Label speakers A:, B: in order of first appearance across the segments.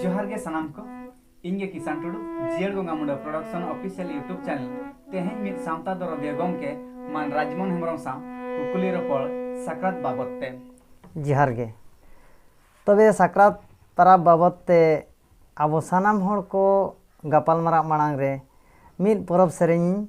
A: ᱡᱚᱦᱟᱨ ᱜᱮ ᱥᱟᱱᱟᱢ ᱠᱚ ᱤᱧ ᱜᱮ ᱠᱤᱥᱟᱱ ᱴᱩᱰᱩ ᱡᱤᱭᱟᱹᱲ ᱜᱚᱝᱜᱟ Munda production official YouTube channel ᱛᱮᱦᱮᱧ ᱢᱤᱫ ᱥᱟᱶᱛᱟ ᱫᱚᱨᱚᱫᱤᱭᱟᱹ ᱜᱚᱢᱠᱮ ᱢᱟᱱ ᱨᱟᱡᱽᱢᱚᱱ ᱦᱮᱢᱵᱨᱚᱢ ᱥᱟᱶ ᱠᱩᱠᱞᱤ ᱨᱚᱯᱚᱲ ᱥᱟᱠᱨᱟᱛ ᱵᱟᱵᱚᱫ ᱛᱮ ᱡᱚᱦᱟᱨ ᱜᱮ ᱛᱚᱵᱮ ᱥᱟᱠᱨᱟᱛ ᱯᱟᱨᱟᱵᱽ ᱵᱟᱵᱚᱫ ᱛᱮ ᱟᱵᱚ ᱥᱟᱱᱟᱢ ᱦᱚᱲ ᱠᱚ ᱜᱟᱯᱟᱞᱢᱟᱨᱟᱣ ᱢᱟᱲᱟᱝ ᱨᱮ ᱢᱤᱫ ᱯᱚᱨᱚᱵᱽ ᱥᱮᱨᱮᱧ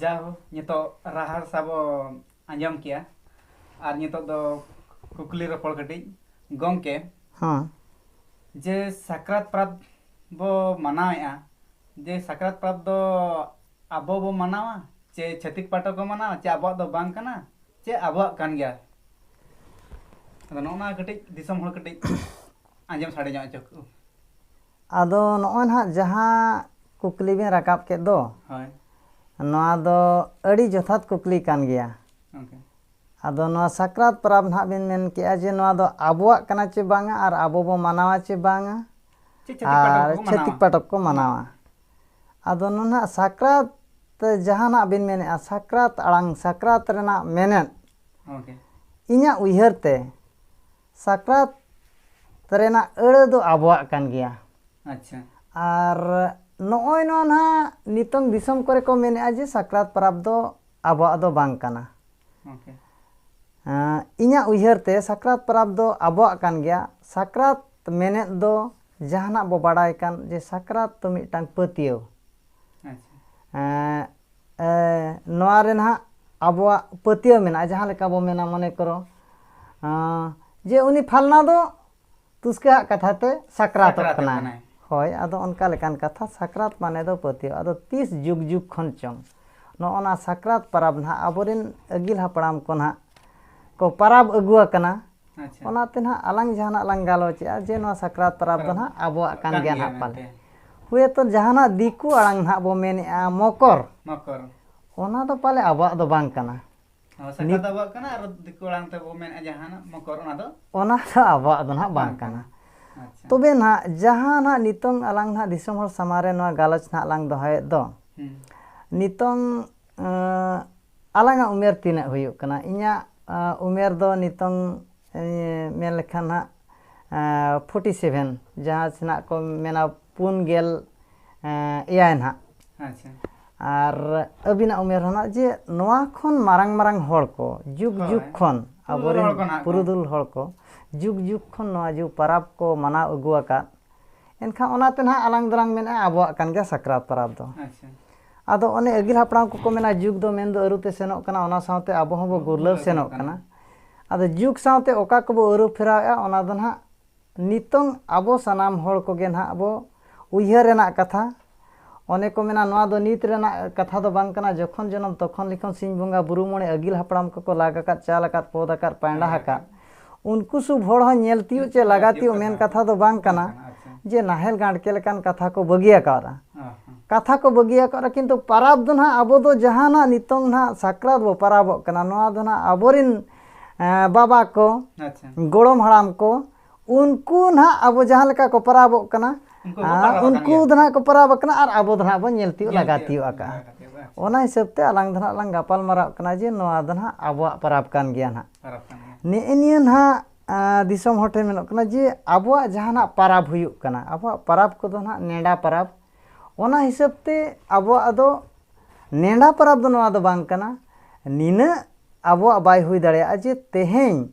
A: ᱡᱟᱣ ᱱᱤᱛᱚᱜ ᱨᱟᱦᱟᱲ ᱥᱟᱵᱚ ᱟᱸᱡᱚᱢ ᱠᱮᱜᱼᱟ ᱟᱨ ᱱᱤᱛᱚᱜ ᱫᱚ ᱠᱩᱠᱞᱤ ᱨᱚᱯᱚᱲ ᱠᱟᱹᱴᱤᱡ ᱜᱚᱢᱠᱮ ᱦᱮᱸ ᱡᱮ ᱥᱟᱠᱨᱟᱛ ᱯᱟᱨᱟᱵᱽ ᱵᱚ ᱢᱟᱱᱟᱣᱮᱜᱼᱟ ᱡᱮ ᱥᱟᱠᱨᱟᱛ ᱯᱟᱨᱟᱵᱽ ᱫᱚ ᱟᱵᱚ ᱵᱚ ᱢᱟᱱᱟᱣᱟ ᱪᱮ ᱪᱷᱟᱹᱛᱤᱠ ᱯᱟᱦᱴᱟ ᱠᱚ ᱢᱟᱱᱟᱣᱟ ᱪᱮ ᱟᱵᱚᱣᱟᱜ ᱫᱚ ᱵᱟᱝ ᱠᱟᱱᱟ ᱪᱮ ᱟᱵᱚᱣᱟᱜ ᱠᱟᱱ ᱜᱮᱭᱟ ᱟᱫᱚ ᱱᱚᱜᱼᱚ ᱱᱟ ᱠᱟᱹᱴᱤᱡ ᱫᱤᱥᱚᱢ ᱦᱚᱲ ᱠᱟᱹᱴᱤᱡ ᱟᱸᱡᱚᱢ ᱥᱟᱰᱮ ᱧᱚᱜ ᱦᱚᱪᱚ ᱠᱚ ᱟᱫᱚ ᱱᱚᱜᱼᱚᱭ ᱱᱟᱦᱟᱜ ᱡᱟᱦᱟᱸ ᱠᱩᱠᱞᱤ ᱵᱮᱱ ᱨᱟᱠᱟᱵ ᱠᱮᱫ ᱫᱚ ᱦᱳᱭ ᱱᱚᱣᱟ ᱫᱚ ᱟᱹᱰᱤ ᱡᱚᱛᱷᱟᱛ ᱠᱩᱠᱞᱤ ᱠᱟᱱ ᱜᱮᱭᱟ ᱜᱚᱝᱠᱮ ᱟᱫᱚ ᱱᱚᱣᱟ ᱥᱟᱠᱨᱟᱛ ᱯᱚᱨᱚᱵᱽ ᱱᱟᱦᱟᱜ ᱵᱮᱱ ᱢᱮᱱ ᱠᱮᱜᱼᱟ ᱡᱮ ᱱᱚᱣᱟ ᱫᱚ ᱟᱵᱚᱣᱟᱜ ᱠᱟᱱᱟ ᱪᱮ ᱵᱟᱝᱟ ᱟᱨ ᱟᱵᱚ ᱵᱚ ᱢᱟᱱᱟᱣᱟ ᱪᱮ ᱵᱟᱝᱟ ᱪᱮᱫ ᱪᱷᱟᱹᱛᱤᱠ ᱯᱟᱴᱚᱠ ᱟᱨ ᱠᱚᱠᱚ ᱪᱷᱟᱹᱛᱤᱠ ᱢᱟᱱᱟᱣᱟ ᱯᱟᱴᱚᱠ ᱠᱚ ᱢᱟᱱᱟᱣᱟ ᱟᱫᱚ ᱱᱚᱱᱟᱜ ᱥᱟᱠᱨᱟᱛ ᱡᱟᱦᱟᱱᱟᱜ ᱵᱤᱱ ᱢᱮᱱᱮᱫᱼᱟ ᱥᱟᱠᱨᱟᱛ ᱟᱲᱟᱝ ᱥᱟᱠᱨᱟᱛ ᱨᱮᱱᱟᱜ ᱢᱮᱱᱮᱫ ᱜᱚᱝᱠᱮ ᱤᱧᱟᱹᱜ ᱩᱭᱦᱟᱹᱨ ᱛᱮ ᱥᱟᱠᱨᱟᱛ ᱨᱮᱱᱟᱜ ᱟᱹᱲᱟᱹ ᱫᱚ ᱟᱵᱚᱣᱟᱜ ᱠᱟᱱ ᱜᱮᱭᱟ ᱟᱪᱪᱷᱟ ᱟᱨ ᱱᱚᱜᱼᱚᱭ ᱱᱚᱣᱟ ᱱᱟᱦᱟᱜ ᱱᱤᱛᱚᱝ ᱫᱤᱥᱚᱢ ᱠᱚᱨᱮ ᱠᱚ ᱢᱮᱱᱮᱜᱼᱟ ᱡᱮ ᱥᱟᱠᱨᱟᱛ ᱯᱟᱨᱟᱵᱽ ᱫᱚ ᱟᱵᱚᱣᱟᱜ ᱫᱚ ᱵᱟᱝ ᱠᱟᱱᱟ ᱳᱠᱮ ᱤᱧᱟᱹᱜ ᱩᱭᱦᱟᱹᱨ ᱛᱮ ᱥᱟᱠᱨᱟᱛ ᱯᱟᱨᱟᱵᱽ ᱫᱚ ᱟᱵᱚᱣᱟᱜ ᱠᱟᱱ ᱜᱮᱭᱟ ᱥᱟᱠᱨᱟᱛ ᱢᱮᱱᱮᱫ ᱫᱚ ᱡᱟᱦᱟᱱᱟᱜ ᱵᱚ ᱵᱟᱲᱟᱭ ᱠᱟᱱ ᱡᱮ ᱥᱟᱠᱨᱟᱛ ᱫᱚ ᱢᱤᱫᱴᱟᱝ ᱯᱟᱹᱛᱭᱟᱹᱣ ᱱᱚᱣᱟ ᱨᱮ ᱱᱟᱦᱟᱜ ᱟᱵᱚᱣᱟᱜ ᱯᱟᱹᱛᱭᱟᱹᱣ ᱢᱮᱱᱟᱜᱼᱟ ᱡᱟᱦᱟᱸ ᱞᱮᱠᱟ ᱵᱚ ᱢᱮᱱᱟ ᱢᱚᱱᱮ ᱠᱚᱨᱚ ᱡᱮ ᱩᱱᱤ ᱯᱷᱟᱞᱱᱟ ᱫᱚ ᱛᱩᱥᱠᱟᱹᱣᱟᱜ ᱠᱟᱛᱷᱟ ᱛᱮ ᱥᱟᱠᱨᱟᱛᱚᱜ ᱠᱟᱱᱟᱭ ᱦᱳᱭ ᱟᱫᱚ ᱚᱱᱠᱟ ᱞᱮᱠᱟᱱ ᱠᱟᱛᱷᱟ ᱥᱟᱠᱨᱟᱛ ᱢᱟᱱᱮ ᱫᱚ ᱯᱟᱹᱛᱭᱟᱹᱣ ᱟᱫᱚ ᱛᱤᱥ ᱡᱩᱜᱽ ᱡᱩᱜᱽ ᱠᱷᱚᱱ ᱪᱚᱝ ᱱᱚᱜᱼᱚ ᱱᱟ ᱥᱟᱠᱨᱟᱛ ᱯᱟᱨᱟᱵᱽ ᱱᱟᱦᱟᱜ ᱟᱵᱚᱨᱮᱱ ᱟᱹᱜᱤᱞ ᱦᱟᱯᱲᱟᱢ ᱠᱚ ᱱᱟᱦᱟᱜ ᱠᱚ ᱯᱟᱨᱟᱵᱽ ᱟᱹᱜᱩ ᱟᱠᱟᱱᱟ ᱟᱪᱪᱷᱟ ᱚᱱᱟᱛᱮ ᱱᱟᱦᱟᱜ ᱟᱞᱟᱝ ᱡᱟᱦᱟᱱᱟᱜ ᱞᱟᱝ ᱜᱟᱞᱚᱪᱮᱜᱼᱟ ᱡᱮ ᱱᱚᱣᱟ ᱥᱟᱠᱨᱟᱛ ᱯᱟᱨᱟᱵᱽ ᱫᱚ ᱱᱟᱦᱟᱜ ᱟᱵᱚᱣᱟᱜ ᱠᱟᱱ ᱜᱮᱭᱟ ᱱᱟᱦᱟᱜ ᱯᱟᱞᱮ ᱦᱳᱭᱛᱚ ᱡᱟᱦᱟᱱᱟᱜ ᱫᱤᱠᱩ ᱟᱲᱟᱝ ᱱᱟᱦᱟᱜ ᱵᱚ ᱢᱮᱱᱮᱜᱼᱟ ᱢᱚᱠᱚᱨ ᱢᱚᱠᱚᱨ ᱚᱱᱟ ᱫᱚ ᱯᱟᱞᱮ ᱟᱵᱚᱣᱟᱜ ᱫᱚ ᱵᱟᱝ ᱠᱟᱱᱟ ᱚ, ᱥᱟᱠᱨᱟᱛ ᱫᱚ ᱟᱵᱚᱣᱟᱜ ᱠᱟᱱᱟ ᱟᱨ ᱫᱤᱠᱩ ᱟᱲᱟᱝ ᱛᱮᱵᱚ ᱢᱮᱱᱮᱫᱼᱟ ᱡᱟᱦᱟᱱᱟᱜ ᱢᱚᱠᱚᱨ ᱚᱱᱟ ᱫᱚ ᱚᱱᱟ ᱫᱚ ᱟᱵᱚᱣᱟᱜ ᱫᱚ ᱱᱟᱦᱟᱜ ᱵᱟᱝ ᱠᱟᱱᱟ ᱟᱪᱪᱷᱟ ᱛᱚᱵᱮ ᱱᱟᱦᱟᱜ ᱡᱟᱦᱟᱸ ᱱᱟᱦᱟᱜ ᱱᱤᱛᱚᱝ ᱟᱞᱟᱝ ᱱᱟᱦᱟᱜ ᱫᱤᱥᱚᱢ ᱦᱚᱲ ᱥᱟᱢᱟᱝ ᱨᱮ ᱱᱚᱣᱟ ᱜᱟᱞᱚᱪ ᱱᱟᱦᱟᱜ ᱞᱟᱝ ᱫᱚᱦᱚᱭᱮᱫ ᱫᱚ ᱦᱩᱸ ᱱᱤᱛᱚᱝ ᱟᱸ, ᱟᱞᱟᱝ ᱟᱜ ᱩᱢᱮᱨ ᱛᱤᱱᱟᱹᱜ ᱦᱩᱭᱩᱜ ᱠᱟᱱᱟ ᱤᱧᱟᱹᱜ ᱩᱢᱮᱨ ᱫᱚ ᱱᱤᱛᱚᱝ ᱢᱮᱱ ᱞᱮᱠᱷᱟᱱ ᱦᱟᱸᱜ ᱯᱷᱳᱨᱴᱤ ᱥᱮᱵᱷᱮᱱ ᱡᱟᱦᱟᱸ ᱥᱮᱱᱟᱜ ᱠᱚ ᱢᱮᱱᱟ ᱯᱩᱱ ᱜᱮᱞ ᱮᱭᱟᱭ ᱱᱟᱦᱟᱜ ᱟᱪᱪᱷᱟ ᱟᱨ ᱟᱹᱵᱤᱱᱟᱜ ᱩᱢᱮᱨ ᱦᱚᱸ ᱱᱟᱦᱟᱜ ᱡᱮ ᱱᱚᱣᱟ ᱠᱷᱚᱱ ᱢᱟᱨᱟᱝ ᱢᱟᱨᱟᱝ ᱦᱚᱲ ᱠᱚ ᱡᱩᱜᱽ ᱡᱩᱜᱽ ᱠᱷᱚᱱ ᱟᱵᱚᱨᱮᱱ ᱯᱩᱨᱩᱫᱷᱩᱞ ᱦᱚᱲ ᱠᱚ ᱡᱩᱜᱽ ᱡᱩᱜᱽ ᱠᱷᱚᱱ ᱱᱚᱣᱟ ᱡᱩᱜᱽ ᱯᱟᱨᱟᱵᱽ ᱠᱚ ᱢᱟᱱᱟᱣ ᱟᱹᱜᱩ ᱟᱠᱟᱫ ᱮᱱᱠᱷᱟᱱ ᱚᱱᱟᱛᱮ ᱱᱟᱦᱟᱜ ᱟᱞᱟᱝ ᱫᱚᱞᱟᱝ ᱢᱮᱱᱟ ᱟᱵᱚᱣᱟᱜ ᱠᱟᱱ ᱜᱮᱭᱟ ᱥᱟᱠᱨᱟᱛ ᱯᱚᱨᱚᱵᱽ ᱫᱚ ᱟᱫᱚ ᱚᱱᱮ ᱟᱹᱜᱤᱞ ᱦᱟᱯᱲᱟᱢ ᱠᱚᱠᱚ ᱢᱮᱱᱟ ᱡᱩᱜᱽ ᱫᱚ ᱢᱮᱱᱫᱚ ᱟᱹᱨᱩᱛᱮ ᱥᱮᱱᱚᱜ ᱠᱟᱱᱟ ᱚᱱᱟ ᱥᱟᱶᱛᱮ ᱟᱵᱚ ᱦᱚᱸᱵᱚ ᱜᱩᱨᱞᱟᱹᱣ ᱥᱮᱱᱚᱜ ᱠᱟᱱᱟ ᱟᱫᱚ ᱡᱩᱜᱽ ᱥᱟᱶᱛᱮ ᱚᱠᱟ ᱠᱚᱵᱚ ᱟᱹᱨᱩ ᱯᱷᱮᱨᱟᱣᱮᱜᱼᱟ ᱚᱱᱟ ᱫᱚ ᱱᱟᱦᱟᱜ ᱱᱤᱛᱚᱝ ᱟᱵᱚ ᱥᱟᱱᱟᱢ ᱦᱚᱲ ᱠᱚᱜᱮ ᱱᱟᱦᱟᱜ ᱵᱚ ᱩᱭᱦᱟᱹᱨ ᱨᱮᱱᱟᱜ ᱠᱟᱛᱷᱟ ᱚᱱᱮ ᱠᱚ ᱢᱮᱱᱟ ᱱᱚᱣᱟ ᱫᱚ ᱱᱤᱛ ᱨᱮᱱᱟᱜ ᱠᱟᱛᱷᱟ ᱫᱚ ᱵᱟᱝ ᱠᱟᱱᱟ ᱡᱚᱠᱷᱚᱱ ᱡᱚᱱᱚᱢ ᱛᱚᱠᱷᱚᱱ ᱞᱤᱠᱷᱚᱱ ᱥᱤᱧ ᱵᱚᱸᱜᱟ ᱵᱩᱨᱩ ᱢᱚᱬᱮ ᱟᱹᱜᱤᱞ ᱦᱟᱯᱲᱟᱢ ᱠᱚᱠᱚ ᱞᱟᱜ ᱟᱠᱟᱫ ᱪᱟᱞ ᱟᱠᱟᱫ ᱯᱚᱫ ᱟᱠᱟᱫ ᱯᱟᱭᱸᱰᱟ ᱟᱠᱟᱫ ᱩᱱᱠᱩ ᱥᱩᱵ ᱦᱚᱲ ᱦᱚᱸ ᱧᱮᱞ ᱛᱤᱭᱩᱜ ᱪᱮ ᱞᱟᱜᱟ ᱛᱤᱭᱩᱜ ᱢᱮᱱ ᱠᱟᱛᱷᱟ ᱫᱚ ᱵᱟᱝ ᱠᱟᱱᱟ ᱡᱮ ᱱᱟᱦᱮᱞ ᱜᱟᱸᱰᱠᱮ ᱞᱮᱠᱟᱱ ᱠᱟᱛᱷᱟ ᱠᱚ ᱵᱟᱹᱜᱤ ᱟᱠᱟᱣᱟᱫᱼᱟ ᱠᱟᱛᱷᱟ ᱠᱚ ᱵᱟᱹᱜᱤ ᱟᱠᱟᱣᱟᱫᱼᱟ ᱠᱤᱱᱛᱩ ᱯᱟᱨᱟᱵᱽ ᱫᱚ ᱱᱟᱦᱟᱜ ᱟᱵᱚ ᱫᱚ ᱡᱟᱦᱟᱸ ᱱᱟᱦᱟᱜ ᱱᱤᱛᱚᱝ ᱱᱟᱦᱟᱜ ᱥᱟᱠᱨᱟᱛ ᱵᱚ ᱯᱟᱨᱟᱵᱚᱜ ᱠᱟᱱᱟ ᱱᱚᱣᱟ ᱫᱚ ᱱᱟᱦᱟᱜ ᱟᱵᱚ ᱨᱤᱱ ᱵᱟᱵᱟ ᱠᱚ ᱜᱚᱲᱚᱢ ᱦᱟᱲᱟᱢ ᱠᱚ ᱩᱱᱠᱩ ᱱᱟᱦᱟᱜ ᱟᱵᱚ ᱡᱟᱦᱟᱸ ᱞᱮᱠᱟ ᱠᱚ ᱯᱟᱨᱟᱵᱚᱜ ᱠᱟᱱᱟ ᱩᱱᱠᱩ ᱫᱚ ᱱᱟᱦᱟᱜ ᱠᱚ ᱯᱟᱨᱟᱵᱽ ᱟᱠᱟᱱᱟ ᱟᱨ ᱟᱵᱚ ᱫᱚ ᱱᱟᱦᱟᱜ ᱵᱚᱱ ᱧᱮᱞ ᱛᱤᱭᱳᱜ ᱞᱟᱜᱟ ᱛᱤᱭᱳᱜ ᱟᱠᱟᱜᱼᱟ ᱚᱱᱟ ᱦᱤᱥᱟᱹᱵ ᱛᱮ ᱟᱞᱟᱝ ᱫᱚ ᱱᱟᱦᱟᱜ ᱞᱟᱝ ᱜᱟᱯᱟᱞ ᱢᱟᱨᱟᱜ ᱠᱟᱱᱟ ᱡᱮ ᱱᱚᱣᱟ ᱫᱚ ᱱᱟᱦᱟᱜ ᱟᱵᱚᱣᱟᱜ ᱯᱟᱨᱟᱵᱽ ᱠᱟᱱ ᱜᱮᱭᱟ ᱱᱟᱦᱟᱜ ᱱᱮᱜᱼᱮ ᱱᱤᱭᱟᱹ ᱱᱟᱦᱟᱜ ᱫᱤᱥᱚᱢ ᱦᱚᱲ ᱴᱷᱮᱱ ᱢᱮᱱᱚᱜ ᱠᱟᱱᱟ ᱡᱮ ᱟᱵᱚᱣᱟᱜ ᱡᱟᱦᱟᱱᱟᱜ ᱯᱟᱨᱟᱵᱽ ᱦᱩᱭᱩᱜ ᱠᱟᱱᱟ ᱟᱵᱚᱣᱟᱜ ᱯᱟᱨᱟᱵᱽ ᱠᱚᱫᱚ ᱱᱟᱦᱟᱜ ᱱᱮᱰᱟ ᱯᱟᱨᱟᱵᱽ ᱚᱱᱟ ᱦᱤᱥᱟᱹᱵ ᱛᱮ ᱟᱵᱚᱣᱟᱜ ᱫᱚ ᱱᱮᱰᱟ ᱯᱟᱨᱟᱵᱽ ᱫᱚ ᱱᱚᱣᱟ ᱫᱚ ᱵᱟᱝ ᱠᱟᱱᱟ ᱱᱤᱱᱟᱹᱜ ᱟᱵᱚᱣᱟᱜ ᱵᱟᱭ ᱦᱩᱭ ᱫᱟᱲᱮᱭᱟᱜᱼᱟ ᱡᱮ ᱛᱮᱦᱮᱧ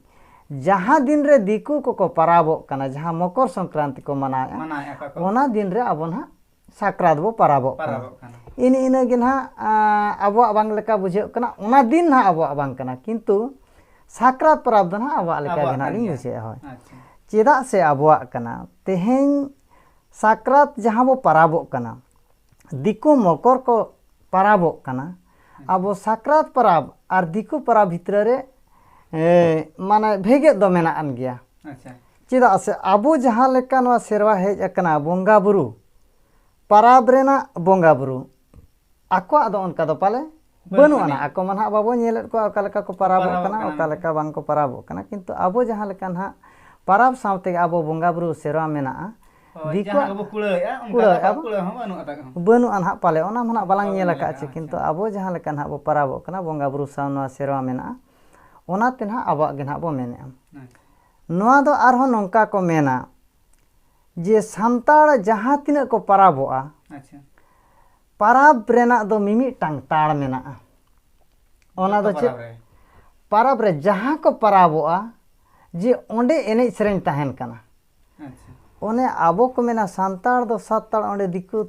A: ᱡᱟᱦᱟᱸ ᱫᱤᱱ ᱨᱮ ᱫᱤᱠᱩ ᱠᱚᱠᱚ ᱯᱟᱨᱟᱵᱚᱜ ᱠᱟᱱᱟ ᱡᱟᱦᱟᱸ ᱢᱚᱠᱚᱨ ᱥᱚᱝᱠᱨᱟᱱᱛᱤ ᱠᱚ ᱢᱟᱱᱟᱣᱮᱫᱼᱟ ᱚᱱᱟ ᱫᱤᱱ ᱨᱮ ᱟᱵᱚ ᱱᱟᱦᱟᱜ ᱥᱟᱠᱨᱟᱛ ᱵᱚ ᱯᱟᱨᱟᱵᱚᱜ ᱠᱟᱱᱟ ᱤᱱ ᱤᱱᱟᱹ ᱜᱮ ᱱᱟᱦᱟᱜ ᱟᱵᱚᱣᱟᱜ ᱵᱟᱝ ᱞᱮᱠᱟ ᱵᱩᱡᱷᱟᱹᱜ ᱠᱟᱱᱟ ᱚᱱᱟ ᱫᱤᱱ ᱱᱟᱦᱟᱜ ᱟᱵᱚᱣᱟᱜ ᱵᱟᱝ ᱠᱟᱱᱟ ᱠᱤᱱᱛᱩ ᱥᱟᱠᱨᱟᱛ ᱯᱟᱨᱟᱵᱽ ᱫᱚ ᱱᱟᱦᱟᱜ ᱟᱵᱚᱣᱟᱜ ᱞᱮᱠᱟ ᱜᱮ ᱱᱟᱦᱟᱜ ᱞᱤᱧ ᱵᱩᱡᱷᱟᱹᱣᱮᱫᱼᱟ ᱦᱳᱭ ᱪᱮᱫᱟᱜ ᱥᱮ ᱟᱵᱚᱣᱟᱜ ᱠᱟᱱᱟ ᱛᱮᱦᱮᱧ ᱥᱟᱠᱨᱟᱛ ᱡᱟᱦᱟᱸ ᱵᱚ ᱯᱟᱨᱟᱵᱚᱜ ᱠᱟᱱᱟ ᱫᱤᱠᱩ ᱢᱚᱠᱚᱨ ᱠᱚ ᱯᱟᱨᱟᱵᱚᱜ ᱠᱟᱱᱟ ᱟᱵᱚ ᱥᱟᱠᱨᱟᱛ ᱯᱟᱨᱟᱵᱽ ᱟᱨ ᱫᱤᱠᱩ ᱯᱟᱨᱟᱵᱽ ᱵᱷᱤᱛᱨᱤ ᱨᱮ ᱢᱟᱱᱮ ᱵᱷᱮᱜᱮᱫ ᱫᱚ ᱢᱮᱱᱟᱜ ᱟᱱ ᱜᱮᱭᱟ ᱪᱮᱫᱟᱜ ᱥᱮ ᱟᱵᱚ ᱡᱟᱦᱟᱸ ᱞᱮᱠᱟ ᱱᱚᱣᱟ ᱥᱮᱨᱣᱟ ᱦᱮᱡ ᱟᱠᱟᱱᱟ ᱵᱚᱸᱜᱟ ᱵᱩᱨᱩ ᱯᱟᱨᱟᱵᱽ ᱨᱮᱱᱟᱜ ᱵᱚᱸᱜᱟ ᱵᱩᱨᱩ ᱟᱠᱚᱣᱟᱜ ᱫᱚ ᱚᱱᱠᱟ ᱫᱚ ᱯᱟᱞᱮ ᱵᱟᱹᱱᱩᱜ ᱟᱱᱟ ᱟᱠᱚ ᱢᱟ ᱱᱟᱦᱟᱜ ᱵᱟᱵᱚ ᱧᱮᱞᱮᱫ ᱠᱚᱣᱟ ᱚᱠᱟ ᱞᱮᱠᱟ ᱠᱚ ᱯᱟᱨᱟᱵᱚᱜ ᱠᱟᱱᱟ ᱚᱠᱟ ᱞᱮᱠᱟ ᱵᱟᱝ ᱠᱚ ᱯᱟᱨᱟᱵᱚᱜ ᱠᱟᱱᱟ ᱠᱤᱱᱛᱩ ᱟᱵᱚ ᱡᱟᱦᱟᱸ ᱞᱮᱠᱟ ᱱᱟᱦᱟᱜ ᱯᱟᱨᱟᱵᱽ ᱥᱟᱶ ᱛᱮᱜᱮ ᱟᱵᱚ ᱵᱚᱸᱜᱟ ᱵᱩᱨᱩ ᱥᱮᱨᱣᱟ ᱢᱮᱱᱟᱜᱼᱟ ᱫᱤᱠᱩᱣᱟᱜ ᱵᱟᱹᱱᱩᱜ ᱟᱱ ᱦᱟᱸᱜ ᱯᱟᱞᱮ ᱚᱱᱟ ᱢᱟ ᱱᱟᱦᱟᱜ ᱵᱟᱞᱟᱝ ᱧᱮᱞ ᱟᱠᱟᱫ ᱪᱮ ᱠᱤᱱᱛᱩ ᱟᱵᱚ ᱡᱟᱦᱟᱸ ᱞᱮᱠᱟ ᱱᱟᱦᱟᱜ ᱵᱚ ᱯᱟᱨᱟᱵᱚᱜ ᱠᱟᱱᱟ ᱵᱚᱸᱜᱟ ᱵᱩᱨᱩ ᱥᱟᱶ ᱱᱚᱣᱟ ᱥᱮᱨᱣᱟ ᱢᱮᱱᱟᱜᱼᱟ ᱚᱱᱟᱛᱮ ᱱᱟᱦᱟᱜ ᱟᱵᱚᱣᱟᱜ ᱜᱮ ᱱᱟᱦᱟᱜ ᱵᱚ ᱢᱮᱱᱮᱫᱼᱟ ᱱᱚᱣᱟ ᱫᱚ ᱟᱨᱦᱚᱸ ᱱᱚᱝᱠᱟ ᱠᱚ ᱢᱮᱱᱟ ᱡᱮ ᱥᱟᱱᱛᱟᱲ ᱡᱟᱦᱟᱸ ᱛᱤᱱᱟᱹᱜ ᱠᱚ ᱯᱟᱨᱟᱵᱚᱜᱼᱟ ᱟᱪᱪᱷᱟ ᱯᱟᱨᱟᱵᱽ ᱨᱮᱱᱟᱜ ᱫᱚ ᱢᱤᱢᱤᱫᱴᱟᱝ ᱛᱟᱲ ᱢᱮᱱᱟᱜᱼᱟ ᱚᱱᱟ ᱫᱚ ᱪᱮᱫ ᱯᱟᱨᱟᱵᱽ ᱨᱮ ᱡᱟᱦᱟᱸ ᱠᱚ ᱯᱟᱨᱟᱵᱚᱜᱼᱟ ᱡᱮ ᱚᱸᱰᱮ ᱮᱱᱮᱡ ᱥᱮᱨᱮᱧ ᱛᱟᱦᱮᱱ ᱠᱟᱱᱟ ᱚᱱᱮ ᱟᱵᱚ ᱠᱚ ᱢᱮᱱᱟ ᱥᱟᱱᱛᱟᱲ ᱫᱚ ᱥᱟᱛ ᱛᱟᱲ ᱚᱸᱰᱮ ᱫᱤᱠᱩ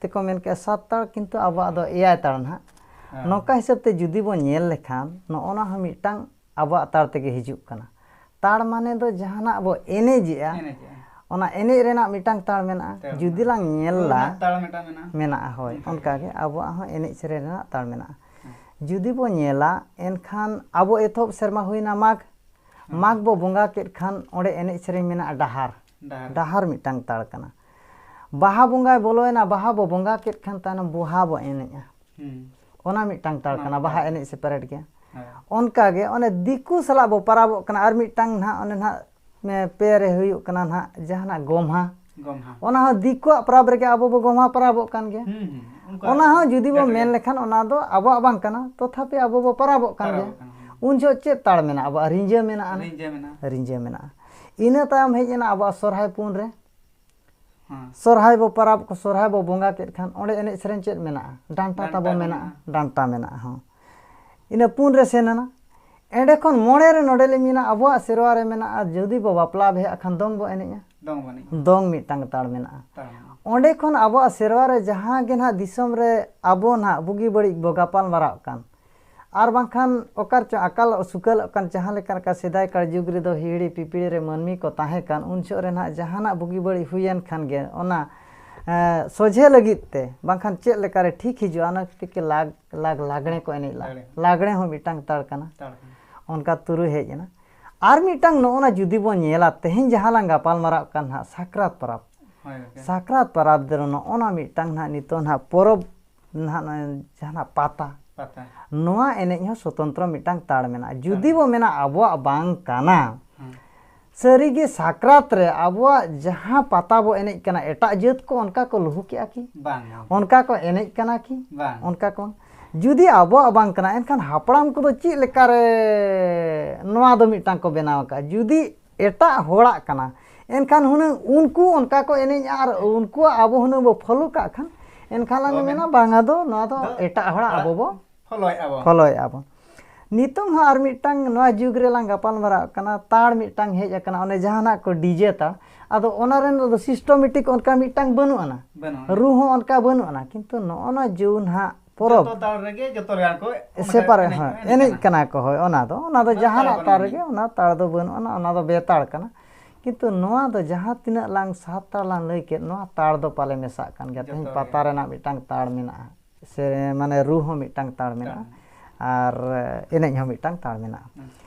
A: ᱛᱮᱠᱚ ᱢᱮᱱ ᱠᱮᱜᱼᱟ ᱥᱟᱛ ᱛᱟᱲ ᱠᱤᱱᱛᱩ ᱟᱵᱚᱣᱟᱜ ᱫᱚ ᱮᱭᱟᱭ ᱛᱟᱲ ᱱᱟᱦᱟᱜ ᱱᱚᱝᱠᱟ ᱦᱤᱥᱟᱹᱵ ᱛᱮ ᱡᱩᱫᱤ ᱵᱚᱱ ᱧᱮᱞ ᱞᱮᱠᱷᱟᱱ ᱱᱚᱜᱼᱚ ᱱᱟ ᱦᱚᱸ ᱢᱤᱫᱴᱟᱝ ᱟᱵᱚᱣᱟᱜ ᱛᱟᱲ ᱛᱮᱜᱮ ᱦᱤᱡᱩᱜ ᱠᱟᱱᱟ ᱛᱟᱲ ᱢᱟᱱᱮ ᱫᱚ ᱡᱟᱦᱟᱱᱟᱜ ᱵᱚ ᱮᱱᱮᱡᱮᱜᱼᱟ ᱚᱱᱟ ᱮᱱᱮᱡ ᱨᱮᱱᱟᱜ ᱢᱤᱫᱴᱟᱝ ᱛᱟᱲ ᱢᱮᱱᱟᱜᱼᱟ ᱡᱩᱫᱤ ᱞᱟᱝ ᱧᱮᱞᱟ ᱢᱮᱱᱟᱜᱼᱟ ᱦᱳᱭ ᱚᱱᱠᱟᱜᱮ ᱟᱵᱚᱣᱟᱜ ᱦᱚᱸ ᱮᱱᱮᱡ ᱥᱮᱨᱮᱧ ᱨᱮᱱᱟᱜ ᱛᱟᱲ ᱢᱮᱱᱟᱜᱼᱟ ᱡᱩᱫᱤ ᱵᱚ ᱧᱮᱞᱟ ᱮᱱᱠᱷᱟᱱ ᱟᱵᱚ ᱮᱛᱚᱦᱚᱵ ᱥᱮᱨᱢᱟ ᱦᱩᱭᱱᱟ ᱢᱟᱜᱽ ᱢᱟᱜᱽ ᱵᱚ ᱵᱚᱸᱜᱟ ᱠᱮᱫ ᱠᱷᱟᱱ ᱚᱸᱰᱮ ᱮᱱᱮᱡ ᱥᱮᱨᱮᱧ ᱢᱮᱱᱟᱜᱼᱟ ᱰᱟᱦᱟᱨ ᱰᱟᱦᱟᱨ ᱢᱤᱫᱴᱟᱝ ᱛᱟᱲ ᱠᱟᱱᱟ ᱵᱟᱦᱟ ᱵᱚᱸᱜᱟᱭ ᱵᱚᱞᱚᱭᱮᱱᱟ ᱵᱟᱦᱟ ᱵᱚ ᱵᱚᱸᱜᱟ ᱠᱮᱫ ᱠᱷᱟᱱ ᱛᱟᱭᱱᱚᱢ ᱵᱚᱦᱟ ᱵᱚ ᱮᱱᱮᱡᱼᱟ ᱚᱱᱟ ᱢᱤᱫᱴᱟᱝ ᱛᱟᱲ ᱠᱟᱱᱟ ᱵᱟᱦᱟ ᱮᱱᱮᱡ ᱥᱮ ᱯᱮᱨᱮᱰ ᱜᱮ ᱚᱱᱠᱟ ᱜᱮ ᱚᱱᱮ ᱫᱤᱠᱩ ᱥᱟᱞᱟᱜ ᱵᱚ ᱯᱟᱨᱟᱵᱚᱜ ᱠᱟᱱᱟ ᱟᱨ ᱢᱤᱫᱴᱟᱝ ᱱᱟᱦᱟᱜ ᱚᱱᱮ ᱱᱟᱦᱟᱜ ᱯᱮ ᱨᱮ ᱦᱩᱭᱩᱜ ᱠᱟᱱᱟ ᱱᱟᱦᱟᱜ ᱡᱟᱦᱟᱱᱟᱜ ᱜᱚᱢᱦᱟ ᱚᱱᱟ ᱦᱚᱸ ᱫᱤᱠᱩᱣᱟᱜ ᱯᱟᱨᱟᱵᱽ ᱨᱮᱜᱮ ᱟᱵᱚ ᱵᱚ ᱜᱚᱢᱦᱟ ᱯᱟᱨᱟᱵᱚᱜ ᱠᱟᱱ ᱜᱮᱭᱟ ᱚᱱᱟ ᱦᱚᱸ ᱡᱩᱫᱤ ᱵᱚ ᱢᱮᱱ ᱞᱮᱠᱷᱟᱱ ᱚᱱᱟ ᱫᱚ ᱟᱵᱚᱣᱟᱜ ᱵᱟᱝ ᱠᱟᱱᱟ ᱛᱚᱛᱷᱟᱯᱤ ᱟᱵᱚ ᱵᱚ ᱯᱟᱨᱟᱵᱚᱜ ᱠᱟᱱ ᱜᱮᱭᱟ ᱩᱱ ᱡᱚᱦᱚᱜ ᱪᱮᱫ ᱛᱟᱲ ᱢᱮᱱᱟᱜᱼᱟ ᱟᱵᱚᱣᱟᱜ ᱨᱤᱸᱡᱷᱟᱹ ᱢᱮᱱᱟᱜᱼᱟ ᱨᱤᱸᱡᱷᱟᱹ ᱢᱮᱱᱟᱜᱼᱟ ᱤᱱᱟᱹ ᱛᱟᱭᱚᱢ ᱦᱮᱡ ᱮᱱᱟ ᱟᱵᱚᱣᱟᱜ ᱥᱚᱦᱨᱟᱭ ᱯᱩᱱ ᱨᱮ ᱥᱚᱨᱦᱟᱭ ᱵᱚ ᱯᱟᱨᱟᱵᱽ ᱠᱚ ᱥᱚᱨᱦᱟᱭ ᱵᱚ ᱵᱚᱸᱜᱟ ᱠᱮᱫ ᱠᱷᱟᱱ ᱚᱸᱰᱮ ᱮᱱᱮᱡ ᱥᱮᱨᱮᱧ ᱪᱮᱫ ᱢᱮᱱᱟᱜᱼᱟ ᱰᱟᱱᱴᱟ ᱛᱟᱵᱚ ᱢᱮᱱᱟᱜᱼᱟ ᱰᱟᱱᱴᱟ ᱢᱮᱱᱟᱜᱼᱟ ᱦᱚᱸ ᱤᱱᱟᱹ ᱯᱩᱱ ᱨᱮ ᱥᱮᱱ ᱮᱱᱟ ᱮᱸᱰᱮ ᱠᱷᱚᱱ ᱢᱚᱬᱮ ᱨᱮ ᱱᱚᱰᱮ ᱞᱤᱧ ᱢᱮᱱᱟ ᱟᱵᱚᱣᱟᱜ ᱥᱮᱨᱣᱟ ᱨᱮ ᱢᱮᱱᱟᱜᱼᱟ ᱡᱩᱫᱤ ᱵᱚ ᱵᱟᱯᱞᱟ ᱵᱤᱦᱟᱹᱜ ᱠᱷᱟᱱ ᱫᱚᱝ ᱵᱚ ᱮᱱᱮᱡᱼᱟ ᱫᱚᱝ ᱢᱤᱫᱴᱟᱝ ᱛᱟᱲ ᱢᱮᱱᱟᱜᱼᱟ ᱚᱸᱰᱮ ᱠᱷᱚᱱ ᱟᱵᱚᱣᱟᱜ ᱥᱮᱨᱣᱟ ᱨᱮ ᱡᱟᱦᱟᱸ ᱜᱮ ᱱᱟᱦᱟᱜ ᱫᱤᱥᱚᱢ ᱨᱮ ᱟᱵᱚ ᱱᱟᱦᱟᱜ ᱵᱩᱜᱤ ᱵᱟᱹᱲᱤᱡ ᱵᱚ ᱜᱟᱯᱟᱞ ᱢᱟᱨᱟᱜ ᱠᱟᱱ ᱟᱨ ᱵᱟᱝᱠᱷᱟᱱ ᱚᱠᱟᱨᱮ ᱪᱚ ᱟᱠᱟᱞᱚᱜ ᱥᱩᱠᱟᱹᱞᱚᱜ ᱠᱟᱱ ᱡᱟᱦᱟᱸ ᱞᱮᱠᱟ ᱱᱚᱝᱠᱟ ᱥᱮᱫᱟᱭ ᱠᱟᱞ ᱡᱩᱜᱽ ᱨᱮᱫᱚ ᱦᱤᱦᱤᱲᱤ ᱯᱤᱯᱤᱲᱤ ᱨᱮ ᱢᱟᱹᱱᱢᱤ ᱠᱚ ᱛᱟᱦᱮᱸ ᱠᱟᱱ ᱩᱱ ᱡᱚᱦᱚᱜ ᱨᱮ ᱱᱟᱦᱟᱜ ᱡᱟᱦᱟᱱᱟᱜ ᱵᱩᱜᱤ ᱵᱟᱹᱲᱤᱡ ᱦᱩᱭᱮᱱ ᱠᱷᱟᱱ ᱜᱮ ᱚᱱᱟ ᱥᱚᱡᱷᱮ ᱞᱟᱹᱜᱤᱫ ᱛᱮ ᱵᱟᱝᱠᱷᱟᱱ ᱪᱮᱫ ᱞᱮᱠᱟ ᱨᱮ ᱴᱷᱤᱠ ᱦᱤᱡᱩᱜᱼᱟ ᱚᱱᱟ ᱠᱷᱟᱹᱛᱤᱨ ᱛᱮ ᱞᱟᱜᱽ ᱞᱟᱜᱽ ᱞᱟᱜᱽᱬᱮ ᱠᱚ ᱮᱱᱮᱡ ᱞᱟᱜᱽᱬᱮ ᱞᱟᱜᱽᱬᱮ ᱦᱚᱸ ᱢᱤᱫᱴᱟᱝ ᱛᱟᱲ ᱠᱟᱱᱟ ᱚᱱᱠᱟ ᱛᱩᱨᱩᱭ ᱦᱮᱡ ᱮᱱᱟ ᱟᱨ ᱢᱤᱫᱴᱟᱝ ᱱᱚᱜᱼᱚ ᱱᱟ ᱡᱩᱫᱤ ᱵᱚᱱ ᱧᱮᱞᱟ ᱛᱮᱦᱮᱧ ᱡᱟᱦᱟᱸ ᱞᱟᱝ ᱜᱟᱯᱟᱞ ᱢᱟᱨᱟᱜ ᱠᱟᱱ ᱱᱟᱦᱟᱜ ᱥᱟᱠᱨᱟᱛ ᱯᱚᱨᱚᱵᱽ ᱥᱟᱠᱨᱟᱛ ᱯᱚᱨᱚᱵᱽ ᱫᱚ ᱱᱚᱜᱼᱚ ᱱᱟ ᱢᱤᱫᱴᱟᱝ ᱱᱟᱦᱟᱜ ᱱᱤᱛᱚᱜ ᱱᱟᱦᱟᱜ ᱯᱚᱨᱚᱵᱽ ᱱᱟᱦᱟᱜ ᱱᱚᱜᱼᱚᱭ ᱡᱟᱦᱟᱱᱟᱜ ᱯᱟᱛᱟ ᱱᱚᱣᱟ ᱮᱱᱮᱡ ᱦᱚᱸ ᱥᱚᱛᱚᱱᱛᱨᱚ ᱢᱤᱫᱴᱟᱝ ᱛᱟᱲ ᱢᱮᱱᱟᱜᱼᱟ ᱡᱩᱫᱤ ᱵᱚ ᱢᱮᱱᱟ ᱟᱵᱚᱣᱟᱜ ᱵᱟᱝ ᱠᱟᱱᱟ ᱥᱟᱹᱨᱤᱜᱮ ᱥᱟᱠᱨᱟᱛ ᱨᱮ ᱟᱵᱚᱣᱟᱜ ᱡᱟᱦᱟᱸ ᱯᱟᱛᱟ ᱵᱚ ᱮᱱᱮᱡ ᱠᱟᱱᱟ ᱮᱴᱟᱜ ᱡᱟᱹᱛ ᱠᱚ ᱚᱱᱠᱟ ᱠᱚ ᱞᱩᱦᱩ ᱠᱮᱜᱼᱟ ᱠᱤ ᱚᱱᱠᱟ ᱠᱚ ᱮᱱᱮᱡ ᱠᱟᱱᱟ ᱠᱤ ᱚᱱᱠᱟ ᱠᱚ ᱡᱩᱫᱤ ᱟᱵᱚᱣᱟᱜ ᱵᱟᱝ ᱠᱟᱱᱟ ᱮᱱᱠᱷᱟᱱ ᱦᱟᱯᱲᱟᱢ ᱠᱚᱫᱚ ᱪᱮᱫ ᱞᱮᱠᱟᱨᱮ ᱱᱚᱣᱟ ᱫᱚ ᱢᱤᱫᱴᱟᱝ ᱠᱚ ᱵᱮᱱᱟᱣ ᱟᱠᱟᱫᱼᱟ ᱡᱩᱫᱤ ᱮᱴᱟᱜ ᱦᱚᱲᱟᱜ ᱠᱟᱱᱟ ᱮᱱᱠᱷᱟᱱ ᱦᱩᱱᱟᱹᱝ ᱩᱱᱠᱩ ᱚᱱᱠᱟ ᱠᱚ ᱮᱱᱮᱡᱼᱟ ᱟᱨ ᱩᱱᱠᱩᱣᱟᱜ ᱟᱵᱚ ᱦᱩᱱᱟᱹᱝ ᱵᱚ ᱯᱷᱚᱞᱳ ᱠᱟᱜ ᱠᱷᱟᱱ ᱮᱱᱠᱷᱟᱱ ᱞᱟᱝ ᱢᱮᱱᱟ ᱵᱟᱝᱟ ᱫᱚ ᱱᱚᱣᱟ ᱫᱚ ᱮᱴᱟᱜ ᱦᱚᱲᱟᱜ ᱟᱵᱚ ᱵᱚ ᱯᱷᱚᱞᱳᱭᱮᱫᱼᱟ ᱵᱚ ᱯᱷᱚᱞᱳᱭᱮᱫᱼᱟ ᱵᱚ ᱱᱤᱛᱚᱝ ᱦᱚᱸ ᱟᱨ ᱢᱤᱫᱴᱟᱝ ᱱᱚᱣᱟ ᱡᱩᱜᱽ ᱨᱮᱞᱟᱝ ᱜᱟᱯᱟᱞ ᱢᱟᱨᱟᱜ ᱠᱟᱱᱟ ᱛᱟᱲ ᱢᱤᱫᱴᱟᱝ ᱦᱮᱡ ᱟᱠᱟᱱᱟ ᱚᱱᱮ ᱡᱟᱦᱟᱱᱟᱜ ᱠᱚ ᱰᱤᱡᱮ ᱛᱟᱲ ᱟᱫᱚ ᱚᱱᱟ ᱨᱮᱱ ᱫᱚ ᱥᱤᱥᱴᱚᱢᱮᱴᱤᱠ ᱚᱱᱠᱟ ᱢᱤᱫᱴᱟᱝ ᱵᱟᱹᱱᱩᱜ ᱟᱱᱟ ᱨᱩ ᱦᱚᱸ ᱚᱱᱠᱟ ᱵᱟᱹᱱᱩᱜ ᱟᱱᱟ ᱠᱤᱱᱛᱩ ᱱᱚᱜᱼᱚ ᱱᱚᱣᱟ ᱡᱩᱣᱟᱹᱱ ᱦᱟᱸᱜ ᱯᱚᱨᱚᱵᱽ ᱡᱚᱛᱚ ᱛᱟᱞ ᱨᱮᱜᱮ ᱡᱚᱛᱚ ᱨᱮ ᱠᱚ ᱥᱮᱯᱟᱨᱮ ᱦᱮᱸ ᱮᱱᱮᱡ ᱠᱟᱱᱟ ᱠᱚ ᱦᱳᱭ ᱚᱱᱟ ᱫᱚ ᱚᱱᱟ ᱫᱚ ᱡᱟᱦᱟᱱᱟᱜ ᱛᱟᱞ ᱨᱮᱜᱮ ᱚᱱᱟ ᱛᱟᱲ ᱫᱚ ᱵᱟᱹᱱᱩᱜ ᱟᱱᱟ ᱚᱱᱟ ᱫᱚ ᱵᱮᱛᱟᱲ ᱠᱟᱱᱟ ᱠᱤᱱᱛᱩ ᱱᱚᱣᱟ ᱫᱚ ᱡᱟᱦᱟᱸ ᱛᱤᱱᱟᱹᱜ ᱞᱟᱝ ᱥᱟᱛ ᱛᱟᱲ ᱞᱟᱝ ᱞᱟᱹᱭ ᱠᱮᱫ ᱱᱚᱣᱟ ᱛᱟᱲ ᱫᱚ ᱯᱟᱞᱮ ᱢᱮᱥᱟᱜ ᱠᱟᱱ ᱜᱮᱭᱟ ᱛᱮᱦᱮᱧ ᱯᱟᱛᱟ ᱨᱮᱱᱟᱜ ᱢᱤᱫᱴᱟᱝ ᱛᱟᱲ ᱢᱮᱱᱟᱜᱼᱟ ᱥᱮ ᱢᱟᱱᱮ ᱨᱩ ᱦᱚᱸ ᱢᱤᱫᱴᱟᱝ ᱛᱟᱲ ᱢᱮᱱᱟᱜᱼᱟ ᱟᱨ ᱮᱱᱮᱡ ᱦᱚᱸ ᱢᱤᱫᱴᱟᱝ ᱛᱟᱲ ᱢᱮᱱᱟᱜᱼᱟ